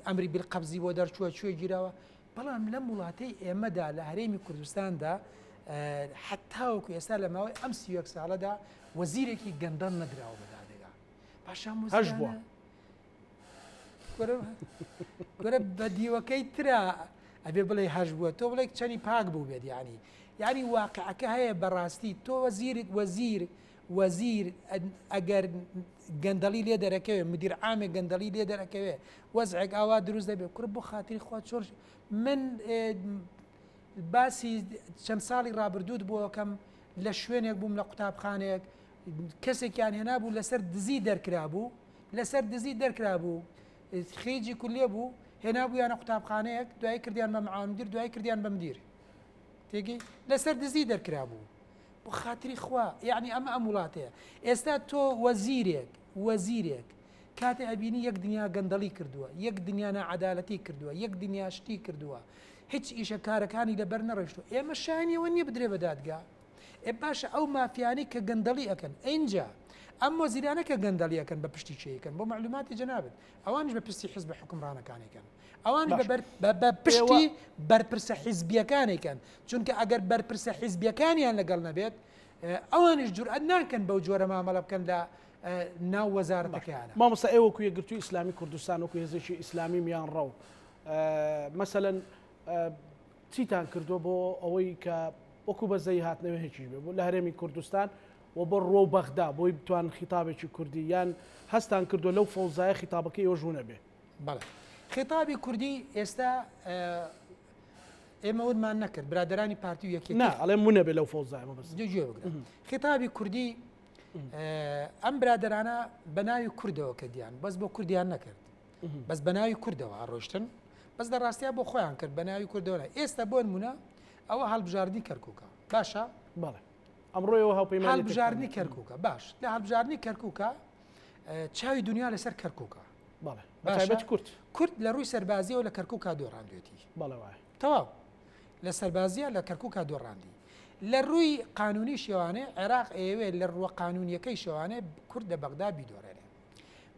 Speaker 2: ئەمری بالقەبزی بۆ دەرچووە کوێ گیرەوە بەڵام لەم وڵاتەی ئێمەدا لە هەرێمی کوردستاندا حتاوەکو ئێستا لە ماوەی ئەم سیوەک ساڵەدا وەزیرێکی گەندەڵ نەدراوە بەدادگا پاشان هەش بووە کورە بە دیوەکەی ترا ئەبێ بڵێ هەش بووە تۆ بڵێ چەنی پاک بوو بێت ینی یاری واقعەکە هەیە بەڕاستی تۆ وەزیر وەزیر وەزیر ئەگەر گەندەڵی لێ دەرەکەوێ مدیر عامێ گەندەڵی لێ دەرەکەوێ وەزعێک ئاوا دروست دەبێ کورە بۆ خاتری خوا چۆر من باسی چەند ساڵی ڕابردووت بۆکەم لە شوێنێک بووم لە قوتابخانێک کەسێکیان هێنابوو لەسەر دزی دەرکرابوو لەسەر دزی دەرکرابوو خیجی کولیە بوو هێنابوویانە قوتابخانەیەک دوای کردیان بە معامدیر دوای کردیان بە مدیر تێگەی لەسەر دزی دەرکرابوو بۆ خاتری خوا یعنی ئەمە ئەم وڵاتەیە ئێستا تۆ وەزیرێک وەزیرێک کاتێ ئەبینی یەک دنیا گەندەڵی کردووە یەک دنیا نەعادالەتی کردووە یەک دنیا شتی کردووە هیچ ئیشە کارەکانی لەبەر نەڕشتو ئێمە شانیەوە نییە بدرێ بە دادگا ئێ باشە ئەو مافیانەی کە گەندەڵی ئەکەن ئینجا ئەم مۆزیرانە کە گەندەڵی ئەکەن بە پشتی کێ ئەکەن بۆ مەعلوماتی جەنابت ئەوانیش بە پرسی حزبە حکومڕانەکان ئەکەن ئەوان باشە. بەبەر بە بە پشتی ئێوە بەرپرسە حیزبیەکان ئەکەن چونکە ئەگەر بەرپرسە حیزبیەکانیان لەگەڵ نەبێت ئێ ئەوانیش جورئەت ناکەن بەو جۆرە مامەڵە بکەن لە ئە ناو باشە وەزارەتەکەیانە. مامۆستا ئێوە وەکو یەکگرتووی
Speaker 1: ئیسلامی کوردستان وەکو هێزێکی ئیسلامی میانڕەو ئە مەسەلەن ئە چیتان کردووە بۆ ئەوەی کە وەکو بەزەیی هاتنەوێهکیش بێ بوو لە هەرێمی کوردستان و بۆ ڕوە و بەغدا بۆی بتوان خیتابێکی کوردی یان هەستان کردووە لەو فەوزایە خیتابەکە ئێوەش ونە بێ بەڵێ
Speaker 2: خێتابی کوردی ئێستا ئێمە ونمان نەکرد برادرانی پارتی و یەکی ئەڵێم ونە بێ لەو
Speaker 1: فەوزایمە بەس جێ بگرە
Speaker 2: خێتابی کوردی ئەم برادرانە بە ناوی کوردەوە کە دییان بەس بۆ کوردیان نەکرد بەس بەناوی کوردەوە هەڕۆشتن بەس لە ڕاستیا بۆ خۆیان کرد بەناوی کوردەوە ئێستا بۆن مونە ئەوە هەڵبژاردنی کەرکووکە باشە بەڵێ
Speaker 1: ئەمڕۆیەوە هاوپەیمان هەڵبژاردننی کەرکووکە
Speaker 2: باش لە هەڵبژاردننی کەرکووکە چاوی دنیا لەسەر کەرکووکە بەڵێ
Speaker 1: کورد کورد لە ڕووی
Speaker 2: سەربازیەوە لە کەرکووکە دۆڕاندێتی بەڵەوە تەواو لە سەربازیە لە کەرکووکە دۆڕاندی لە ڕووی قانونی شێوانێ عێراق ئەیەوێت لە ڕووە قانونیەکەی شێوانێ کورد لە بەغدا بیدۆرێنێ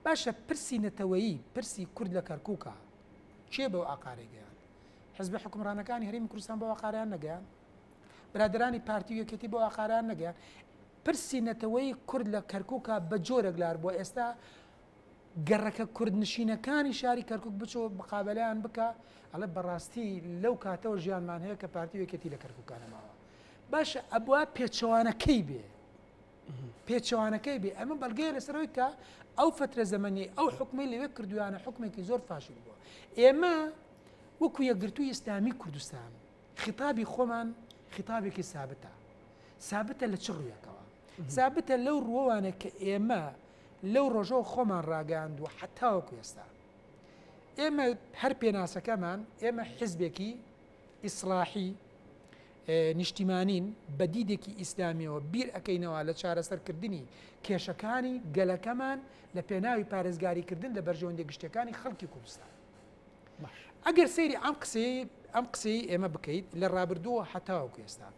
Speaker 2: باشە پرسی نەتەوەیی پرسی کورد لە کەرکوکە کێ بەو ئاقارەی گەیان حزبە حکومڕانەکانی هەرمی کوردستان بۆ ئاقاریان نەگەیان برادرانی پارتی وەکێتی بۆ ئاقاریان نەگەیان پرسی نەتەوەی کورد لە کەرکوکە بە جۆرەک لار بۆ ئێستا گەڕەکە کوردنشینەکانی شاری کەرکک بچۆ بقابلیان بکە ئەڵێ بەڕاستی لەو کاتەوە ژیانمان هەیە کە پارتی وەکێتی لە کەرککانەماوە باشە ئەبوا پێچەوانەکەی بێ پێچەوانەکەی بێ، ئەمە بەڵگەیە لەسەر ئەوەی کە ئەو فەترە زەمەنیەی ئەو حکومەی لەوێ کردویانە حکومێکی زۆر فاشل بووە ئێمە وەکو یەکگرتوو ئیسلامی کوردستان خیتابی خۆمان خیتابێکی سابتە سابتە لە چ ڕویەکەوە سابتە لەو ڕووانە کە ئێمە لەو ڕۆژەوە خۆمان ڕاگەاند و حتاوەکو ئێستا ئێمە هەر پێناسەکەمان ئێمە حزبێکی ئیسلاحی نیشتیمانین بە دیدێکی ئیسلامیەوە بیر ئەکەینەوە لە چارەسەر کردنی کێشەکانی گەلەکەمان لە پێناوی پارێزگاری کردن لە بەرژەوەندی گشتەکانی خەڵکی کوردستان ئەگەر سەیری ئەم قسەی ئەم قسەی ئێمە بکەیت لە ڕابردووە حتاوەکو ئێستا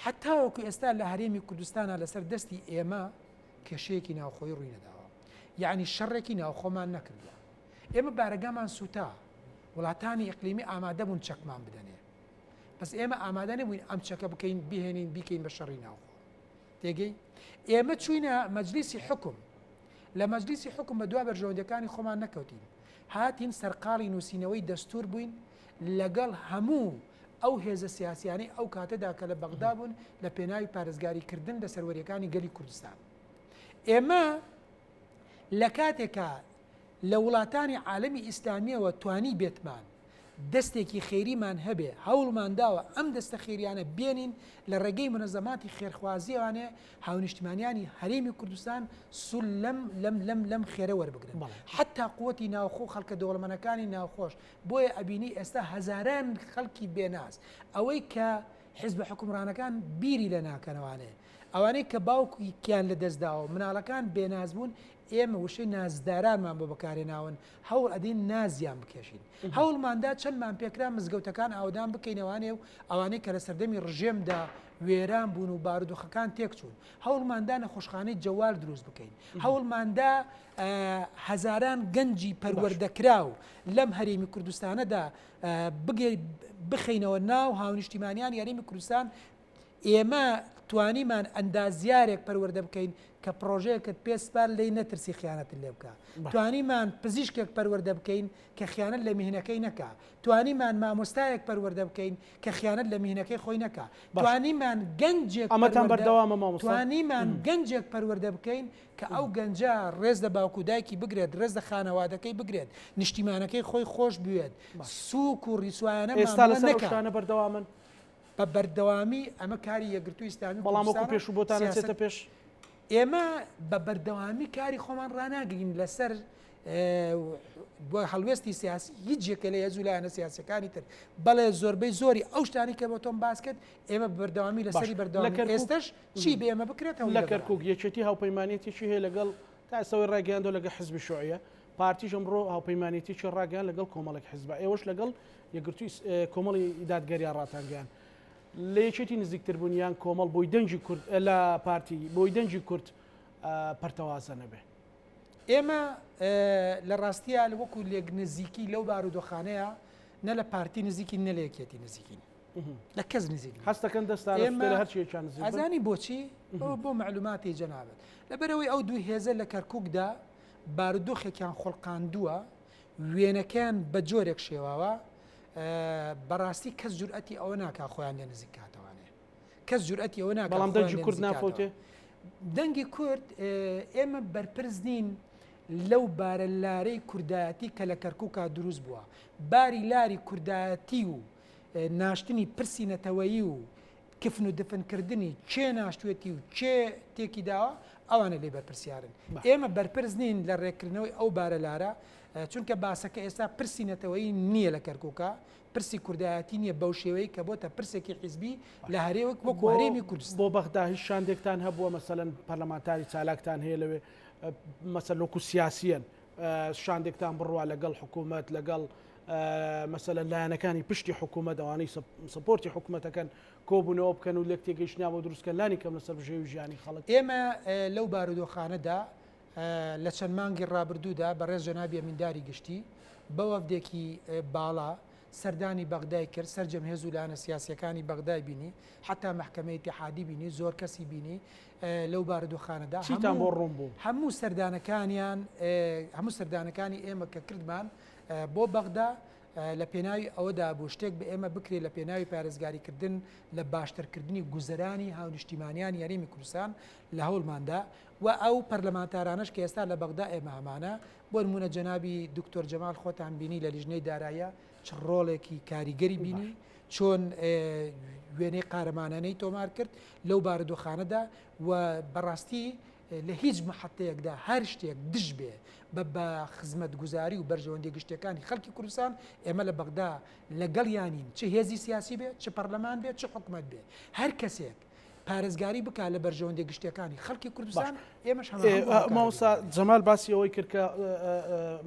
Speaker 2: حتاوەکو ئێستا لە هەرێمی کوردستانە لەسەر دەستی ئێمە کێشەیەکی ناوخۆی ڕووی نەداوە یعنی شەڕێکی ناوخۆمان نەکردووە ئێمە بارەگامان سوتا، وڵاتانی ئیقلیمی ئامادەبوون چەکمان بدەنێ، بەس ئێمە ئامادە نەبووین ئەم چەکە بکەین بهێنین بیکەین بە شەڕی ناوخۆ. تێگەی ئێمە چوینە مەجلیسی حکم لە مەجلیسی حکم بە دوا بەرژەوەندەکانی خۆمان نەکەوتین هاتین سەرقاڵی نووسینەوەی دەستور بووین لەگەڵ هەموو ئەو هێزە سیاسیانی ئەو کاتەدا کە لە بەغدا بوون لە پێناوی پارێزگاریکردن لە سەروەریەکانی گەلی کوردستان ئێمە لە کاتێکا لە وڵاتانی عالەمی ئیسلامیەوە توانیبێتمان دەستێکی خێریمان هەبێ هەوڵمان داوە ئەم دەستە خێریانە بێنین لە ڕێگەی مونەزەماتی خێرخوازیەوانێ هاونیشتمانیانی هەرێمی کوردستان سول لەم لەم لەم لەم خێرە وەربگرن حەتا قوتی ناوخۆ خەڵکە دەوڵەمەنەکانی ناوخۆش بۆیە ئەبینی ئێستا هەزاران خەڵکی بێناز ئەوەی کە حیزبە حکومڕانەکان بیری لە ناکەنەوانێ ئەوانەی کە باوکیان لە دەستداوە مناڵەکان بێناز بوون ئێمە وشەی نازدارانمان بۆ بەکارهێناون، هەوڵ ئەدەین نازیان بکێشین. هەوڵماندا چەندمان پێکرا مزگەوتەکان ئاوەدان بکەینەوانێ و ئەوانەی کە لە سەردەمی ڕژێمدا وێران بوون و بارودۆخەکان تێکچوون. هەوڵماندا نەخۆشخانەی جەوال دروست بکەین. هەوڵماندا هەزاران گەنجی پەروەردەکراو لەم هەرێمی کوردستانەدا بگەی بخەینەوە ناو هاونیشتیمانیانی هەرێمی کوردستان، ئێمە توانیمان ئەندازیارێک پەروەردە بکەین کە پڕۆژەیەکت پێ سپارد لێی نەترسی خیانەتت لێ بکا توانیمان پزیشکێک پەروەردە بکەین کە خیانەت لە میهنەکەی نەکا توانیمان مامۆستایەک پەروەردە بکەین کە خیانەت لە میهنەکەی خۆی نەکا توانیمان گەنجێک ئەمەتان بەردەوامە مامۆستا توانیمان گەنجێک پەروەردە بکەین کە ئەو گەنجە ڕێز لە باوک و دایکی بگرێت ڕێز لە خانەوادەکەی بگرێت نیشتیمانەکەی خۆی خۆش بوێت سوک و ڕیسوایانە ئێستا لەسەر ئەو شتانە
Speaker 1: بەردەوامن بە
Speaker 2: بەردەوامی ئەمە کاری یەکگرتووی ئیسلامی بەڵام وەکو کوردستانە و پێشوو بۆتان سیاسەت
Speaker 1: ئەچێتە پێش؟ ئێمە
Speaker 2: بە بەردەوامی کاری خۆمان ڕاناگرین لەسەر بۆ هەڵوێستی سیاسی هیچ جێکە لە هێزو لایەنە سیاسەکانی تر بەڵێ زۆربەی زۆری ئەو شتانی کە بۆ تۆم باس کرد ئێمە بەردەوامی لە سەری بەردەوام لە ئێستش چی بە ئێمە بکرێتەوە لە کەرکک یەکێتی
Speaker 1: هاوپەیمانێتیی هەیە لەگەڵ تا ئێستەوەی ڕاگەیاندۆ لەگە حزبی شوعە پارتیش ئەمڕۆ هاوپەیمانێتیەکی ڕاگەیان لەگەڵ کۆمەڵێک حزب، ئێوەش لەگەڵ یەکگرتووی کۆمەڵی دادگەریا ڕاتانگەیاند لە یەکێتی نزیکتربوون یان کۆمەڵ بۆی دەنگی کورد لە پارتی بۆی دەنگی کورد پەرتەوازە نەبێ. ئێمە
Speaker 2: لە ڕاستییا وەکو لێک نزیکی لەو بارودۆخانەیە نە لە پارتی نزیکین نە لە یەکێتی نزیکین. لە کەس نزیک هەستەکەن
Speaker 1: دەستانزانی بۆچی
Speaker 2: بۆ معلوماتی جەنابێت لەبەرەوەی ئەو دوو هێزە لە کەرککدا بارودۆخێکیان خۆڵقاندووە وێنەکەیان بە جۆرێک شێواوە بەڕاستی کەس جورئەتی ئەوە ناکا خۆیان لێ نزیک کاتەوانێ کەس جورئەتی ئەوە ناکە بەڵام دەنگی کورد ناپۆتێ
Speaker 1: دەنگی
Speaker 2: کورد ئێمە بەرپرس نین لەو بارە لارەی کوردایەتی کە لە کەرکووکا دروست بووە باری لاری کوردایەتی و ناشتنی پرسی نەتەوەیی و کفن و دفن کردنی کێ ناشتوێتی و کێ تێکی داوە ئەوانە لێ بەرپرسیارن ئێمە بەرپرس نین لە ڕێکردنەوەی ئەو بارە لارە چونکە باسەکە ئێستا پرسی نەتەوەی نییە لە کەرکووکە پرسی کوردایەتی نییە بەو شێوەی کە بۆتە پرسێکی حیزبی لە هەرێوەک بۆ کوارێمی کوردست بۆ بەغدا هیچ شاندێکتان
Speaker 1: هەبووە مەسەن پەرلەمانتاری چالاکتان هەیە لەوێ مەسەلۆک و سیاسیەن شاندێکتان بڕوا لەگەڵ حکوومەت لەگەڵ مەسەلەن لایەنەکانی پشتی حکوومەت ئەوانەی سپۆرتی حکوومەتەکەن کۆبوونەوە بکەن و لێک تێگەیشتنیان بۆ دروستکە لانی کەم لەسەر بژێوی ژیانی خەڵک ئێمە لەو
Speaker 2: بارودۆخانەدا لە چەند مانگی ڕابردوودا بەڕێز جەنابی ئەمینداری گشتی بە وەفدێکی باڵا سەردانی بەغدای کرد سەرجەم هێز و لایەنە سیاسیەکانی بەغدای بینی حتا محکمە اتحادی بینی زۆر کەسی بینی لەو بارودۆخانەدا چیتان بۆ ڕوون بوو
Speaker 1: هەموو سەردانەکانیان
Speaker 2: هەموو سەردانەکانی ئێمە کە کردمان بۆ بەغدا لە پێناوی ئەوەدا بوو شتێک بە ئێمە بکرێت لە پێناوی پارێزگاریکردن لە باشترکردنی گوزەرانی هاونیشتیمانیانی هەرێمی کوردستان لە هەوڵماندا و ئەو پەرلەمانتارانەش کە ئێستا لە بەغدا ئێمە هەمانە بۆ نمونە جەنابی دکتۆر جەمال خۆتان بینی لە لیژنەی دارایە چ ڕۆڵێکی کاریگەری بینی چۆن وێنەی قارەمانانەی تۆمار کرد لەو بارودۆخانەدا و بەڕاستی لە هیچ مەحەتەیەکدا هەر شتێک دژ بێ بە بە خزمەتگوزاری و بەرژەوەندیە گشتیەکانی خەڵکی کوردستان، ئێمە لە بەغدا لە گەڵیانین چ هێزی سیاسی بێ، چ پەڕلەمان بێ، چ حکومەت بێ. هەر کەسێک پارێزگاری بکا لە بەرژەوەندیە گشتیەکانی خەڵکی کوردستان، ئێمەش هەماهەنگ بۆ ئەو کارە دەکەین. مامۆستا
Speaker 1: جەمال باسی ئەوەی کرد کە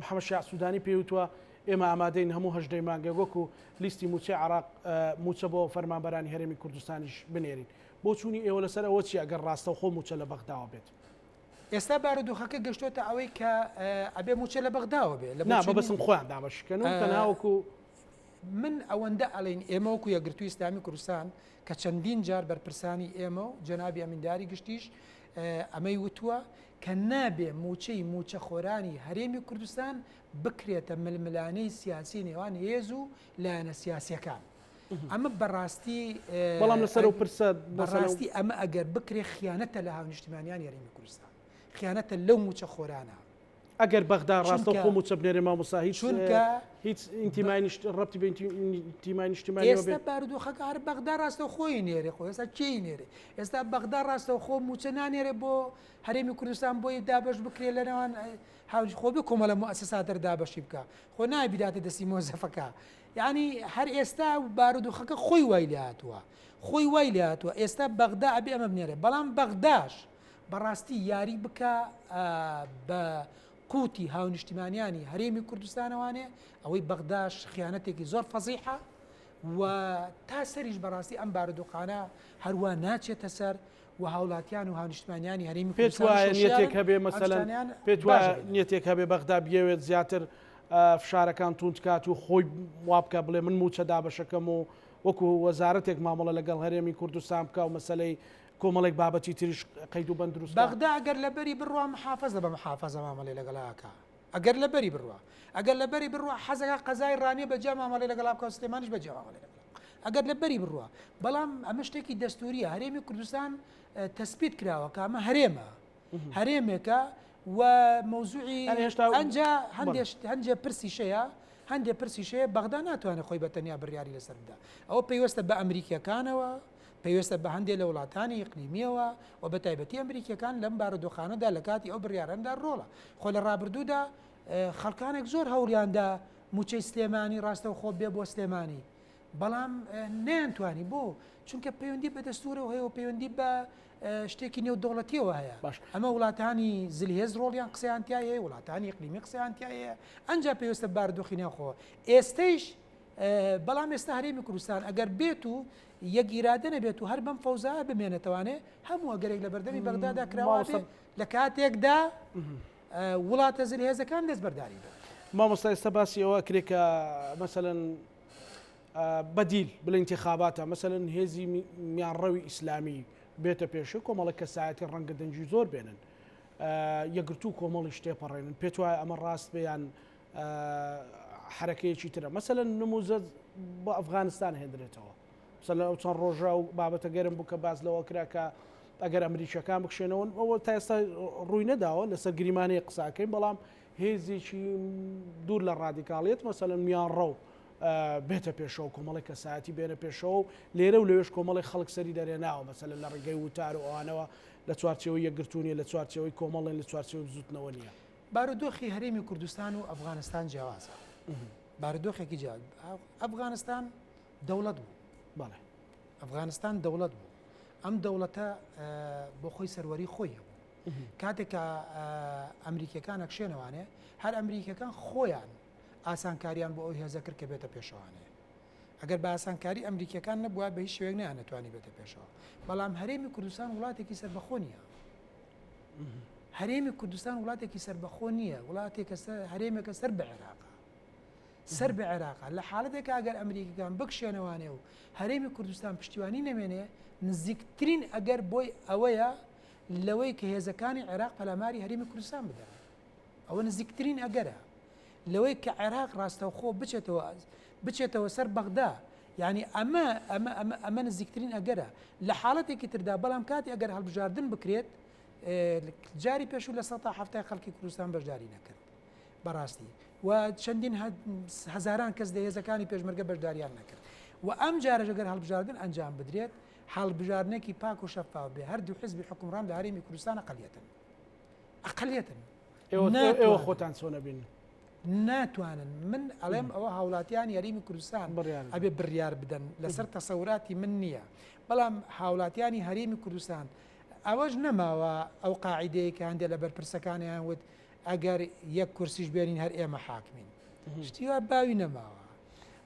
Speaker 1: محەمەد شیاع سودانی پێی وتوە ئێمە ئامادەین هەموو هەژدە ی مانگێک وەکو لیستی موچەی عێراق موچە بۆ فەرمانبەرانی هەرێمی کوردستانیش بنێرین. بۆچوونی ئێوە لەسەر ئەوە چیە گەر ڕاستەوخۆ مووچە لە بەغداوە بێت؟ ئێستا
Speaker 2: بارودۆخەکە گەشتۆتە ئەوەی کە ئەبێ
Speaker 1: مووچە لە
Speaker 2: بەغداوە
Speaker 1: بێ
Speaker 2: لە
Speaker 1: بەسم
Speaker 2: خۆیان
Speaker 1: دابەشکەن
Speaker 2: و
Speaker 1: تەناوەکو
Speaker 2: من ئەوەندە ئەڵین ئێمەوەکو یەگرتوو ئسلامی کوردستان کە چەندین جار بەرپرسانی ئێمە و جەنابی ئەمینداری گشتیش ئەمەی وتووە کە نابێ موچەی موچە خۆرانی هەرێمی کوردستان بکرێتە ململانەی سیاسی نێوان هێز و لایەنە سیاسەکان ئەمە بەڕاستی بەڵام لەسەر
Speaker 1: و پرسە بەڕاستی ئەمە
Speaker 2: ئەگەر بکرێ خیانەتە لە هاونیشتمانیان یاریمی کوردستان خیانەتە لەو موچە خۆرانە ئەگەر
Speaker 1: بەغدا ڕاستە خۆ موچە بنێرێ مامۆسا هیچ چونکە
Speaker 2: هیچ ئینتیمای
Speaker 1: نیشت ڕەتی بە ئینتیمای نیشتیمانی ئێستا بارودۆخەکە
Speaker 2: هەر بەغدا ڕاستە خۆی نێرێ خۆ ئێستا کێی نێرێ ئێستا بەغدا ڕاستە خۆ موچە نانێرێ بۆ هەرێمی کوردستان بۆی دابش بکرێ لە نێوان هاوج خۆ بێ کۆمەلە مؤسسا دەردابشی بکە خۆ نابیداتە دەستی مۆزەفەکە یەعنی هەر ئێستا بارودوخەکە خۆی وای لێهاتووە خۆی وای لێهاتووە ئێستا بەغدا ئەبێ ئەمە بنێرێ بەڵام بەغداش بەڕاستی یاری بکە بە قوتی هاونیشتیمانیانی هەرێمی کوردستانەوانێ ئەوەی بەغداش خیانەتێکی زۆر فەزیحە و تا سەریش بەڕاستی ئەم بارودۆخانە هەروە ناچێتە سەر و هاوڵاتیان و هاونیشتمانیانی هەرێمی پێت وایە نیەتێک
Speaker 1: هەبێ مەسەلەن پێت وایە نیەتێک هەبێ بەغدا بگەوێت زیاتر فشارەکان توندکات و خۆی وابکە بڵێ من موچە دابەشەکەم و وەکو وەزارەتێک مامەڵە لەگەڵ هەرێمی کوردستان بکە و مەسلەی کۆمەڵێک بابەتی تریش قەید و بەندروست بەغدا گەر لەبەری
Speaker 2: بڕوام حافظە بە محافظە مامەڵێ لەگەڵاکە ئەگەر لە بەری بڕوا ئەگەر لە بەری بڕوا حەزەکە قەزای ڕانیە بە جیا مامەڵی لەگەڵا بکە سلێمانش بە جیا مامەڵی لەگەڵ ئەگەر لە بەری بڕوا بەڵام ئەمە شتێکی دەستوریە هەرێمی کوردستان تەسبیت کراوە کە ئەمە هەرێمە هەرێمێکە و مەوزوعی هێشتا ئەجا هەندێک هەندێک پرسی شەیە هەندێک پرسیشەیە بەغدا ناتوانێت خۆی بە تەنیا بڕیاری لەسەر بدا ئەوە پێیوەستە بە ئەمریکیەکانەوە پەیوەستە بە هەندێ لە وڵاتانی ئیقلیمییەوە و بە تایبەتی ئەمریکییەکان لەم بارودۆخانەدا لە کاتی ئەو بڕیارەندا ڕۆڵە. خۆ لە ڕابردوودا خەڵکانێک زۆر هەوڵیان دا مووچەی سلێمانی ڕاستەوخۆ بێ بۆ سلێمانی بەڵام نەیانتوانی بۆ چونکە پەیوەندی بە دەستورەوە هەیە و پەیوەندی بە شتێکی نێودەوڵەتیەوە هەیە باش ئەمە وڵاتانی زلهێز ڕۆڵیان قسەیانتیایە وڵاتانی قلیمی قسەیانتیایە ئەنج پێویستە باردۆخی ناخۆ ئێستەیش بەڵام ئێستا هەرێمی کوردستان ئەگەر بێت و یەک ئیرادە نەبێت و هەر بەم فەوزایە بمێنێتەوانێ هەموو ئەگەرێک لە بەردەمی بەغدادا کراوە بێ ماوەسە. لە کاتێکدا وڵاتە زلهێزەکان دەست بەرداری بن. مامۆستا ئێستا باسی
Speaker 1: ئەوە ئەکرێ کە مەسەلەن ئا بەدیل بلە ئینتخاباتە مەسەلەن هێزی می میانڕەوی ئیسلامی بێتە پێشێ کۆمەڵە کەسایەتی ڕەنگە دەنگی زۆر بێنن ئا یەکگرتوو کۆمەڵیش تێپەڕێنن پێت وایە ئەمە ڕاست بێ یان حەرەکەیەکی ترە مەسەلەن نموزە بۆ ئەفغانستان هێندرێتەوە سەر لە ئەو چەند ڕۆژە و بابەتە گەرم بوو کە باز لەوە کرا کە ئەگەر ئەمریکیەکان بکشێنەوە ئەوە تا ئێستا ڕووی نەداوە لەسەر گریمانەیە قساکەین بەڵام هێزێکی دوور لە ڕادیکاڵیت مەسەلەن میان ڕەو بێتە پێشەوە کۆمەڵی کەسایەتی بێنە پێشەوە و لێرە و لەوێش کۆمەڵی خەڵک سەری دەرێناوە مەسەلە لە ڕێگەی وتار و ئەوانەوە لە چوارچەوەی یەکگرتونیە لە چوارچەوەی کۆمەڵێن لە چوارچەوەی بزوتنەوە نیە بارودۆخی هەرێمی
Speaker 2: کوردستان و ئەفغانستان جیاوازە بارودۆخێکی جیاواز ئەفغانستان دەوڵەت بوو بەڵێ
Speaker 1: ئەفغانستان
Speaker 2: دەوڵەت بوو ئەم دەوڵەتە بۆ خۆی سەروەری خۆی هەبوو کاتێک کە ئەمریکیەکان ئەکشێنەوانێ هەر ئەمریکەکان خۆیان ئاسانکاریان بۆ ئەو هێزە کرد کە بێتە پێشوانێ ئەگەر بە ئاسانکاری ئەمریکیەکان نەبوایە بە هیچ شێوەیەک نەیانەتوانیبێتە پێشەوە بەڵام هەرێمی کوردستان وڵاتێکی سەربەخۆ نیە هەرێمی کوردستان وڵاتێکی سەربەخۆ نییە وڵاتێکە هەرێمێکە سەر بە عێراق سەر بە عێراق لە حاڵەتێکە ئەگەر ئەمریکەکان بکشێنەوانێ و هەرێمی کوردستان پشتیوانی نەمێنێ نزیکترین ئەگەر بۆی ئەوەیە لەوەی کە هێزەکانی عێراق پەلاماری هەرێمی کوردستان بدەن ئەوە نزیکترین ئەگەرە لەوەی کە عێراق ڕاستەوخۆ بچێتەوە بچێتەوە سەر بەغدا، یانی ئەمە ئەمە ئەمە ئەمە نزیکترین ئەگەرە، لە حاڵەتێکی تردا بەڵام کاتێ ئەگەر هەڵبژاردن بکرێت جاری پێشوو لە سەتا حەفتای خەڵکی کوردستان بەشداری نەکرد بەڕاستی و چەندین هەزاران کەس لە هێزەکانی پێشمەرگە بەشداریان نەکرد و ئەم جارەژەگەر هەڵبژاردن ئەنجام بدرێت هەڵبژاردنێکی پاک و شەفاو بێ هەردوو حزبی حکومڕان لە هەرێمی کوردستانە قەلیەتن ئەقلیتن
Speaker 1: ئێوە خۆتان چۆنە بین ناتوانن
Speaker 2: من ئەڵێم ئەوە هاوڵاتیان یاریمی کوردستان ئەبێ بڕیار بدەن لەسەر تەسەوراتی من نییە بەڵام هاوڵاتیانی هەرێمی کوردستان ئەوەش نەماوە ئەو قاعدەیە کە هەندێک لە بەرپرسەکانیان وت ئەگەر یەک کورسیش بێنین هەر ئێمە حاکمین شتیوا باوی نەماوە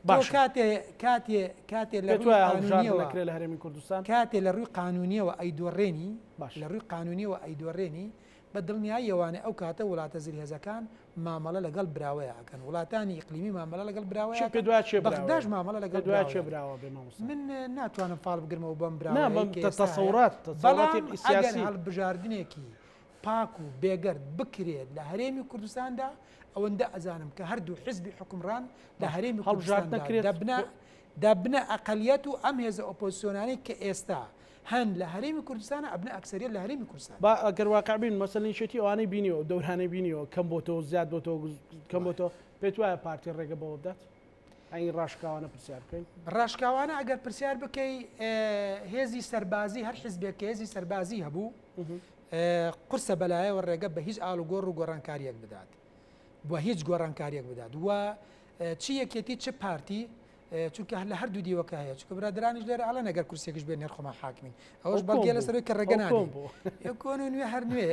Speaker 2: باشە. تۆ کاتێ کاتێ کاتێ لە ڕووی قانونیەوە لە هەرێمی کوردستان کاتێ
Speaker 1: لە
Speaker 2: ڕووی قانونیەوە ئەیدۆڕێنی باش لە ڕووی
Speaker 1: قانونیەوە
Speaker 2: ئەیدۆڕێنی بە دڵنیاییەوانە ئەو کاتە وڵاتە زلهێزەکان مامەڵە لەگەڵ براوەیە ئەکەن وڵاتانی ئیقلیمی مامەڵە لەگەڵ براوەیە پێ دوا چێ بەغداش مامەڵە لەگەڵ دوا چێ براوە بێ مامۆستا
Speaker 1: من
Speaker 2: ناتوانم فاڵ بگرمەوە بەم براوە
Speaker 1: بەڵام
Speaker 2: سیاسی هەڵبژاردنێکی پاک و بێگەرد بکرێت لە هەرێمی کوردستاندا، ئەوەندە ئەزانم کە هەردوو حزبی حوکمڕان لە هەرێمی کوردستاندا دەبنە دەبنە ئەقەلیەت و ئەم هێزە ئۆپۆزسیۆنانەی کە ئێستا هەن لە هەرێمی کوردستانە ئەبنە ئەکسەریەت لە هەرێمی کوردستان. با گەر واقع بین
Speaker 1: مەسەلەن یەکێتی ئەوانەی بینیوە و دەورانەی بینیوە کەم بۆتەوە و زیاد بۆتەوە کەم بۆتەوە، پێت وایە پارتی ڕێگە بەوە بدات؟ ئەی ڕاشکاوانە پرسیار بکەین ڕاشکاوانە ئەگەر
Speaker 2: پرسیار بکەی هێزی سەربازی هەر حزبێک کە هێزی سەربازی هەبوو قرسە بەلایەوە ڕێگە بە هیچ ئال و گۆڕ و گۆڕانکاریەک بدات بۆ هیچ گۆڕانکاریەک بدات و چی یەکێتی چ پارتی چونکە هەر لە هەردوو دیوەکە هەیە چکە برادرانیش لێرە ئەڵە نەگەر کورسێکش بێن نرخۆمان حاکمین ئەوش بەڵگێ لە سەروی کە ڕێگەنا بۆ کۆن و نوێ هەر نوێ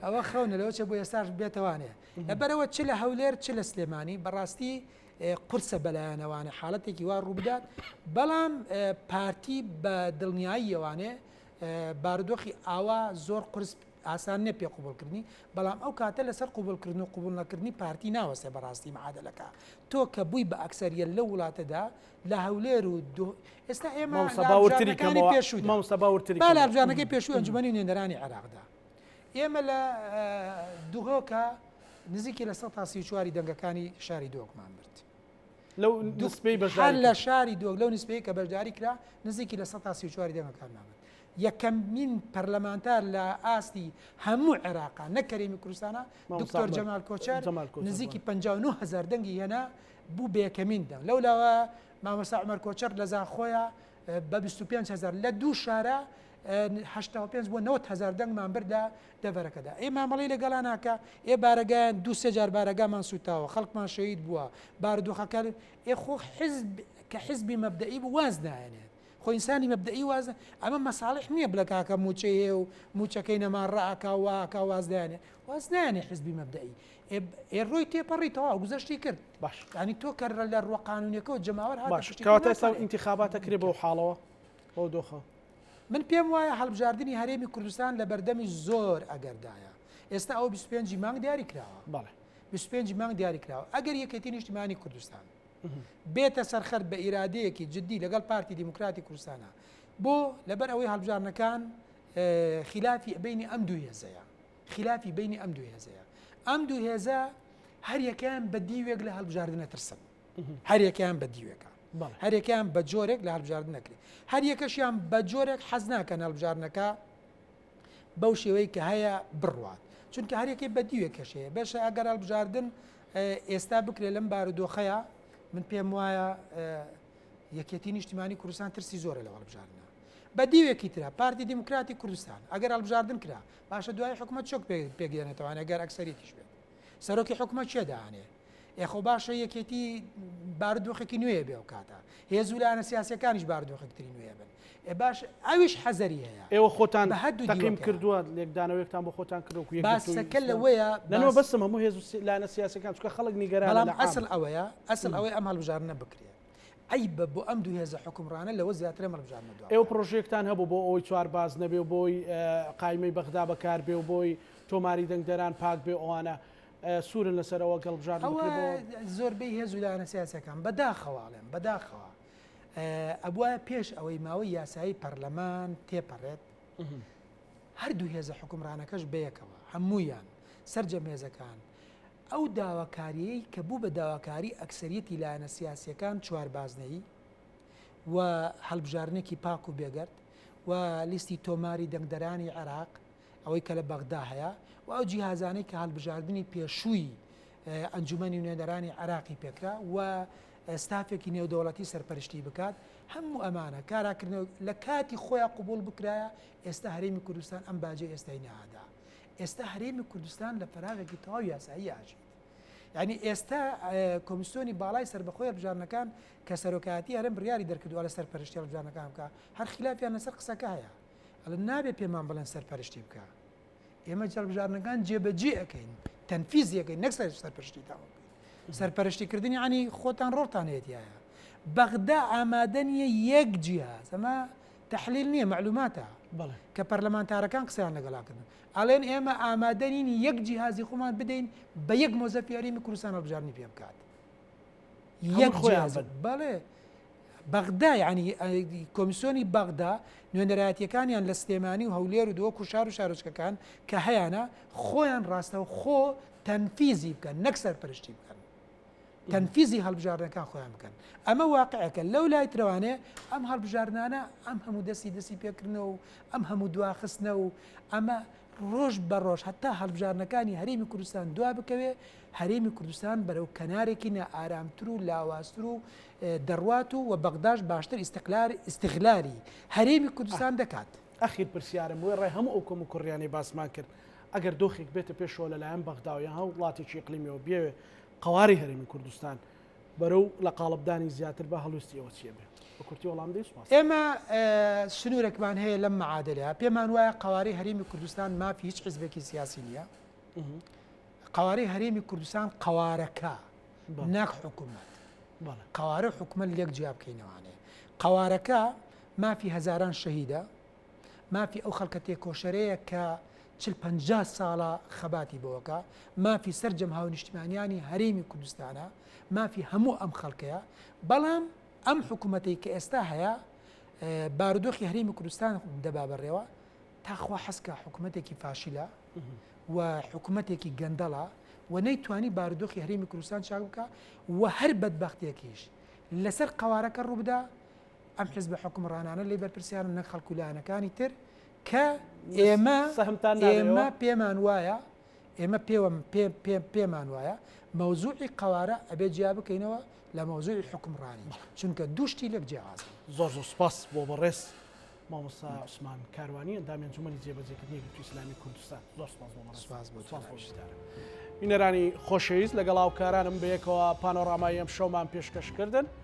Speaker 2: ئەوە خەونە لەەوە چە بۆ ئێستاش بێتوانێت لەبەرئەوە چ لە هەولێر چ لە سلێمانی بەڕاستی قورسە بەلایانەوانێ حاڵەتێکی وا ڕووبدات بەڵام پارتی بە دڵنیاییەوانێ بارودۆخی ئاوا زۆر قرس ئاسان نیە پێ قوبولکردنی بەڵام ئەو کاتە لەسەر قوبولکردن و قوبول نەکردنی پارتی ناوەسێ بەڕاستی معادلەکە تۆ کە بووی بە ئەکسەریە لە وڵاتەدا لە هەولێر و ئێستا ئێمە سەباوتری پێشووتری بالابزانەکەی پێشوو ئەنجومی نوێنەرانی عێراقدا ئێمە لە دهۆکە نزیکی لە سەتا سی و چوار ی دەنگەکانی شاری دهۆکمان برد. لەو
Speaker 1: نسبەی بەشداری کرد. هەر لە شاری دهۆک لەو
Speaker 2: نسبەی کە بەشداری کرا نزیکی لە سەتا سی و چوار ی دەنگەکانمان برد. یەکەمین پەرلەمانتار لە ئاستی هەموو عێراقا نەک کەرێمی کوردستانا دکتۆر جەمال کۆچەر نزیکی پەنجا و نۆ هەزار دەنگی هێنا بوو بە یەکەمین دەنگ. لەولاوە مامۆستا عومەر کۆچەر لە زاخۆیە بە بیست و پێنج هەزار لە دوو شارە هەشتا و پێنج بۆ نەوەد هەزار دەنگمان بردە دەڤەرەکەدا. ئێ مامەڵەی لەگەڵا ناکا؟ ئێ بارەگایان دوو سێ جار بارەگامان سووتاوە، خەڵکمان شەهید بووە، بارودۆخەکە ئێ خۆ حیزب کە حیزبی مەبدەئی بوو واز نایەنێت. خۆ ئینسانی مەبدەئی واز ئەمە مەساڵح نییە بڵێ کاکە مووچەی هەیە و مووچەکەی نەما ڕائەکا و وا ئەکا واز دایەنێ. واز نایەنێ حیزبی مەبدەئی. ئێ ئێ ڕۆی تێپەڕی تەواو گوزەشتی کرد باش یانی تۆ کە
Speaker 1: رە لە
Speaker 2: ڕوە قانونیەکەوە جەماوەر هاتە باش پشتی تۆ کەواتە ئێستا ناتوانێ.
Speaker 1: ئینتیخابات ئەکرێ بەو حاڵەوە بەو دۆخە من پێم
Speaker 2: وایە هەڵبژاردنی هەرێمی کوردستان لە بەردەمی زۆر ئەگەردایە ئێستا ئەوە بیست و پێنجی مانگ دیاری کراوە بەڵێ بیست و پێنجی
Speaker 1: مانگ دیاری
Speaker 2: کراوە ئەگەر یەکێتی نیشتیمانی کوردستان بێتە سەرخەر بە ئیرادەیەکی جدی لەگەڵ پارتی دیموکراتی کوردستانا بۆ لەبەر ئەوەی هەڵبژاردنەکان اه، خیلافی بینی ئەم دوو هێزەیە خیلافی بەینی ئەم دوو هێزەیە. ئەم دوو هێزە هەریەکەیان بە دیوێک لە هەڵبژاردنە ترسن. هەریەکەیان بە دیوێکە. هەرێکیان بە جۆرێک لە هەبژارد نەکرێت هەر یەکەشیان بە جۆرێک حەز ناکەن هەڵبژارنەکە بەو شێوەی کە هەیە بڕوات چونکە هەرێکی بە دیوێک کەشەیە بەشە ئەگەر هەڵبژاردن ئێستا بکرێت لەم بارودۆخەیە من پێم وایە یەکێتی نیشتیمانی کوردستان ترسی زۆرە لە هەڵبژاردنە بە دیوێکی تررا پارتی دیموکراتی کوردستان ئەگەر هەڵبژاردن کرا باشە دوایی حکومەت چۆک پێک دێنێتەوە ئەگەر ئەکسەریتیش بێت سەرۆکی حکومەت چێ دانێ ئێخۆ باشە یەکێتی باردۆخێکی نوێ بێ و کاتە هێز و لاەنە سیاسەکانیش باردۆخێکتری نوێ بن ئێ باش ئەویش حەزەری هەیە ئێوە خۆتان بە هەدوو
Speaker 1: تەقیم کردووە لێکدانەوەێکتان بۆ خۆتان کردو باسەکە لەوەیە
Speaker 2: لەنەوە بەسم هەموو هێز
Speaker 1: و لاەنە سیاسەکان چکە خەڵک نیگەران بەڵام ئەسل ئەوەیە
Speaker 2: ئەسل ئەوەی ئەم هەڵبژارنە بکرێت عەیبە بۆ ئەم دوو هێزە حوکمڕانە لەوە زیاترە مەڵبژاردنە دوا ئێوە بکەن. پڕۆژەیەکتان هەبوو بۆ
Speaker 1: ئەوەی چوار باز نەبێ و بۆی قایمەی بەغدا بەکار بێ و بۆی تۆماری دەنگدەران پاک بێ ئەوانە سوورن لەسەر ئەوە گەڵبژاردن ئەوە بکرێ بۆ زۆربەی
Speaker 2: هێز و لایەنە سیاسیەکان بە داخەوە ئەڵێم بە داخەوە ئەبوایە پێش ئەوەی ماوەی یاسایی پەرلەمان تێپەرێت هەردوو هێزە حوکمڕانەکەش بەیەکەوە هەموویان سەرجەم هێزەکان ئەو داواکارییەی کە بوو بە داواکاری ئەکسەریەتی لایەنە سیاسییەکان چوار بازنەیی و هەڵبژاردنێکی پاک و بێگەرد و لیستی تۆماری دەنگدەرانی عێراق ئەوەی کە لە بەغدا هەیە و ئەو جیهازانەی کە هەڵبژاردنی پێشووی ئەنجومەنی نوێنەرانی عێراقی پێکرا و ستافێکی نێودەوڵەتی سەرپەرشتی بکات هەموو ئەمانە کاراکردنەوە لە کاتی خۆیان قبوڵ بکرایە ئێستا هەرێمی کوردستان ئەم باجەی ئێستای نەئەدا ئێستا هەرێمی کوردستان لە پەراوێکی تەواو یاسایی ئاژیت یعنی ئێستا کۆمیسیۆنی باڵای سربەخۆی هەربژارنەکان کە سەرۆکایەتی هەرم بڕیاری دەرکردووە لە سەرپەرشتی هەڵبژانەکان بکە هەر خلافیان لەسەر قسەکە هەیە ئەل نابێ پێمان بڵێن سەرپەرشتی بکە ئێمە جەڵبژارنەکان جێبەجێ ئەەکەین تەنفیزیەکەی نەک سەر سەرپەرشتی تاوە سەرپەرشتیکردنی عنی خۆتان ڕۆڵتانێتیایە بەغدا ئامادە نیە یەک جیاز ئەمە تەحلیل نیە مەعلوماتە کە
Speaker 1: پەرلەمانتارەکان
Speaker 2: قسەیان لەگەڵا کردن ئەڵێن ئێمە ئامادە نین یەک جیهازی خۆمان بدەین بە یەک مۆزەفی هەرێمی کوردستان هەڵبژاردنی پێ بکات یەک خۆیان بن بەڵێ بەغدا یعنی کۆمیسیۆنی بەغدا نوێنەرایەتیەکانیان لە سلێمانی و هەولێر و دۆک و شار و شارۆچکەکان کە هەیانە خۆیان ڕاستەو خۆ تەنفیزی بکەن نەک سەرپەرشتی بکەن تەنفیزی هەڵبژاردنەکان خۆیان بکەن ئەمە واقعەکە لەو لای ترەوانێ ئەم هەڵبژاردنانە ئەم هەموو دەستی دەستی پێکردنەوە و ئەم هەموو دواخستنە و ئەمە ڕۆژ بە ڕۆژ هەتا هەڵبژاردنەکانی هەرێمی کوردستان دوا بکەوێ هەرێمی کوردستان بەرەو کەنارێکی نە ئارامتر و لاوازتر و دەڕوات و و بەغداش باشتر ئیسقلار ئیسغلاری هەرێمی کوردستان دەکات ئەخیر پرسیارم
Speaker 1: وێ ڕێ هەموو ئەو کۆم و کوڕیانەی باسمان کرد ئەگەر دۆخێک بێتە پێشەوە لەلایەن بەغداویان هەو وڵاتێکی قلیمیەوە بێوێ قەوارەی هەرێمی کوردستان بەرەو لە قاڵبدانی زیاتر بە هەڵویستی ئێوە چیە بێ بە کورتی وەڵام بدەی سوپاس. ئێمە
Speaker 2: سنورەکمان هەیە لەم معادلە پێمان وایە قەوارەی هەرێمی کوردستان مافی هیچ حزبێکی سیاسی نییە قەوارەی هەرێمی کوردستان قەوارەکە ناک حکوومەت قەوارە حکومە لێک جیابکەینەوانێ قەوارەکە مافی هەزاران شەهیدە مافی ئەو خەڵکە تێکۆشەرەیە کە چل پەنجا ساڵە خەباتی بۆکە، مافی سەرجەم هاونیشتمانیانی هەرێمی کوردستانە، مافی هەموو ئەم خەڵکەیە، بەڵام ئەم حکومەتەی کە ئێستا هەیە بارودۆخی هەرێمی کوردستان دەبا بەڕێوە، تاخوا حەزکە حکومەتێکی فاشلە و حکومەتێکی گەندەڵە و نەیتوانی بارودۆخی هەرێمی کوردستان چاک بکە و هەر بەدبەختێکیش لەسەر قەوارەکە ڕووبدا، ئەم حزبە حوکمڕانانە لێی بەرپرسیارن نەک خەڵک و لایەنەکانی تر کە ئێمە ئێمە پێمان وایە ئێمە پێوە پێمان وایە مەوزوعی قوارە ئەبێ جیا بکەینەوە لە مەوزوعی حکمڕانی چونکە دوشتی لەک جیاز زۆر زۆر سپاس
Speaker 1: بۆ بەڕێز مامۆستا عوسمان کاروانی ئەندامی جمەلی جێبەجێکردنی گوت ئسلامی کوردستان زۆر سپاس بۆ سپاس بۆ بینەرانی خۆشەویست لەگەڵ هاوکارانم بەیەکەوە پانۆڕامای ئەم شەومان پێشکەشکردن.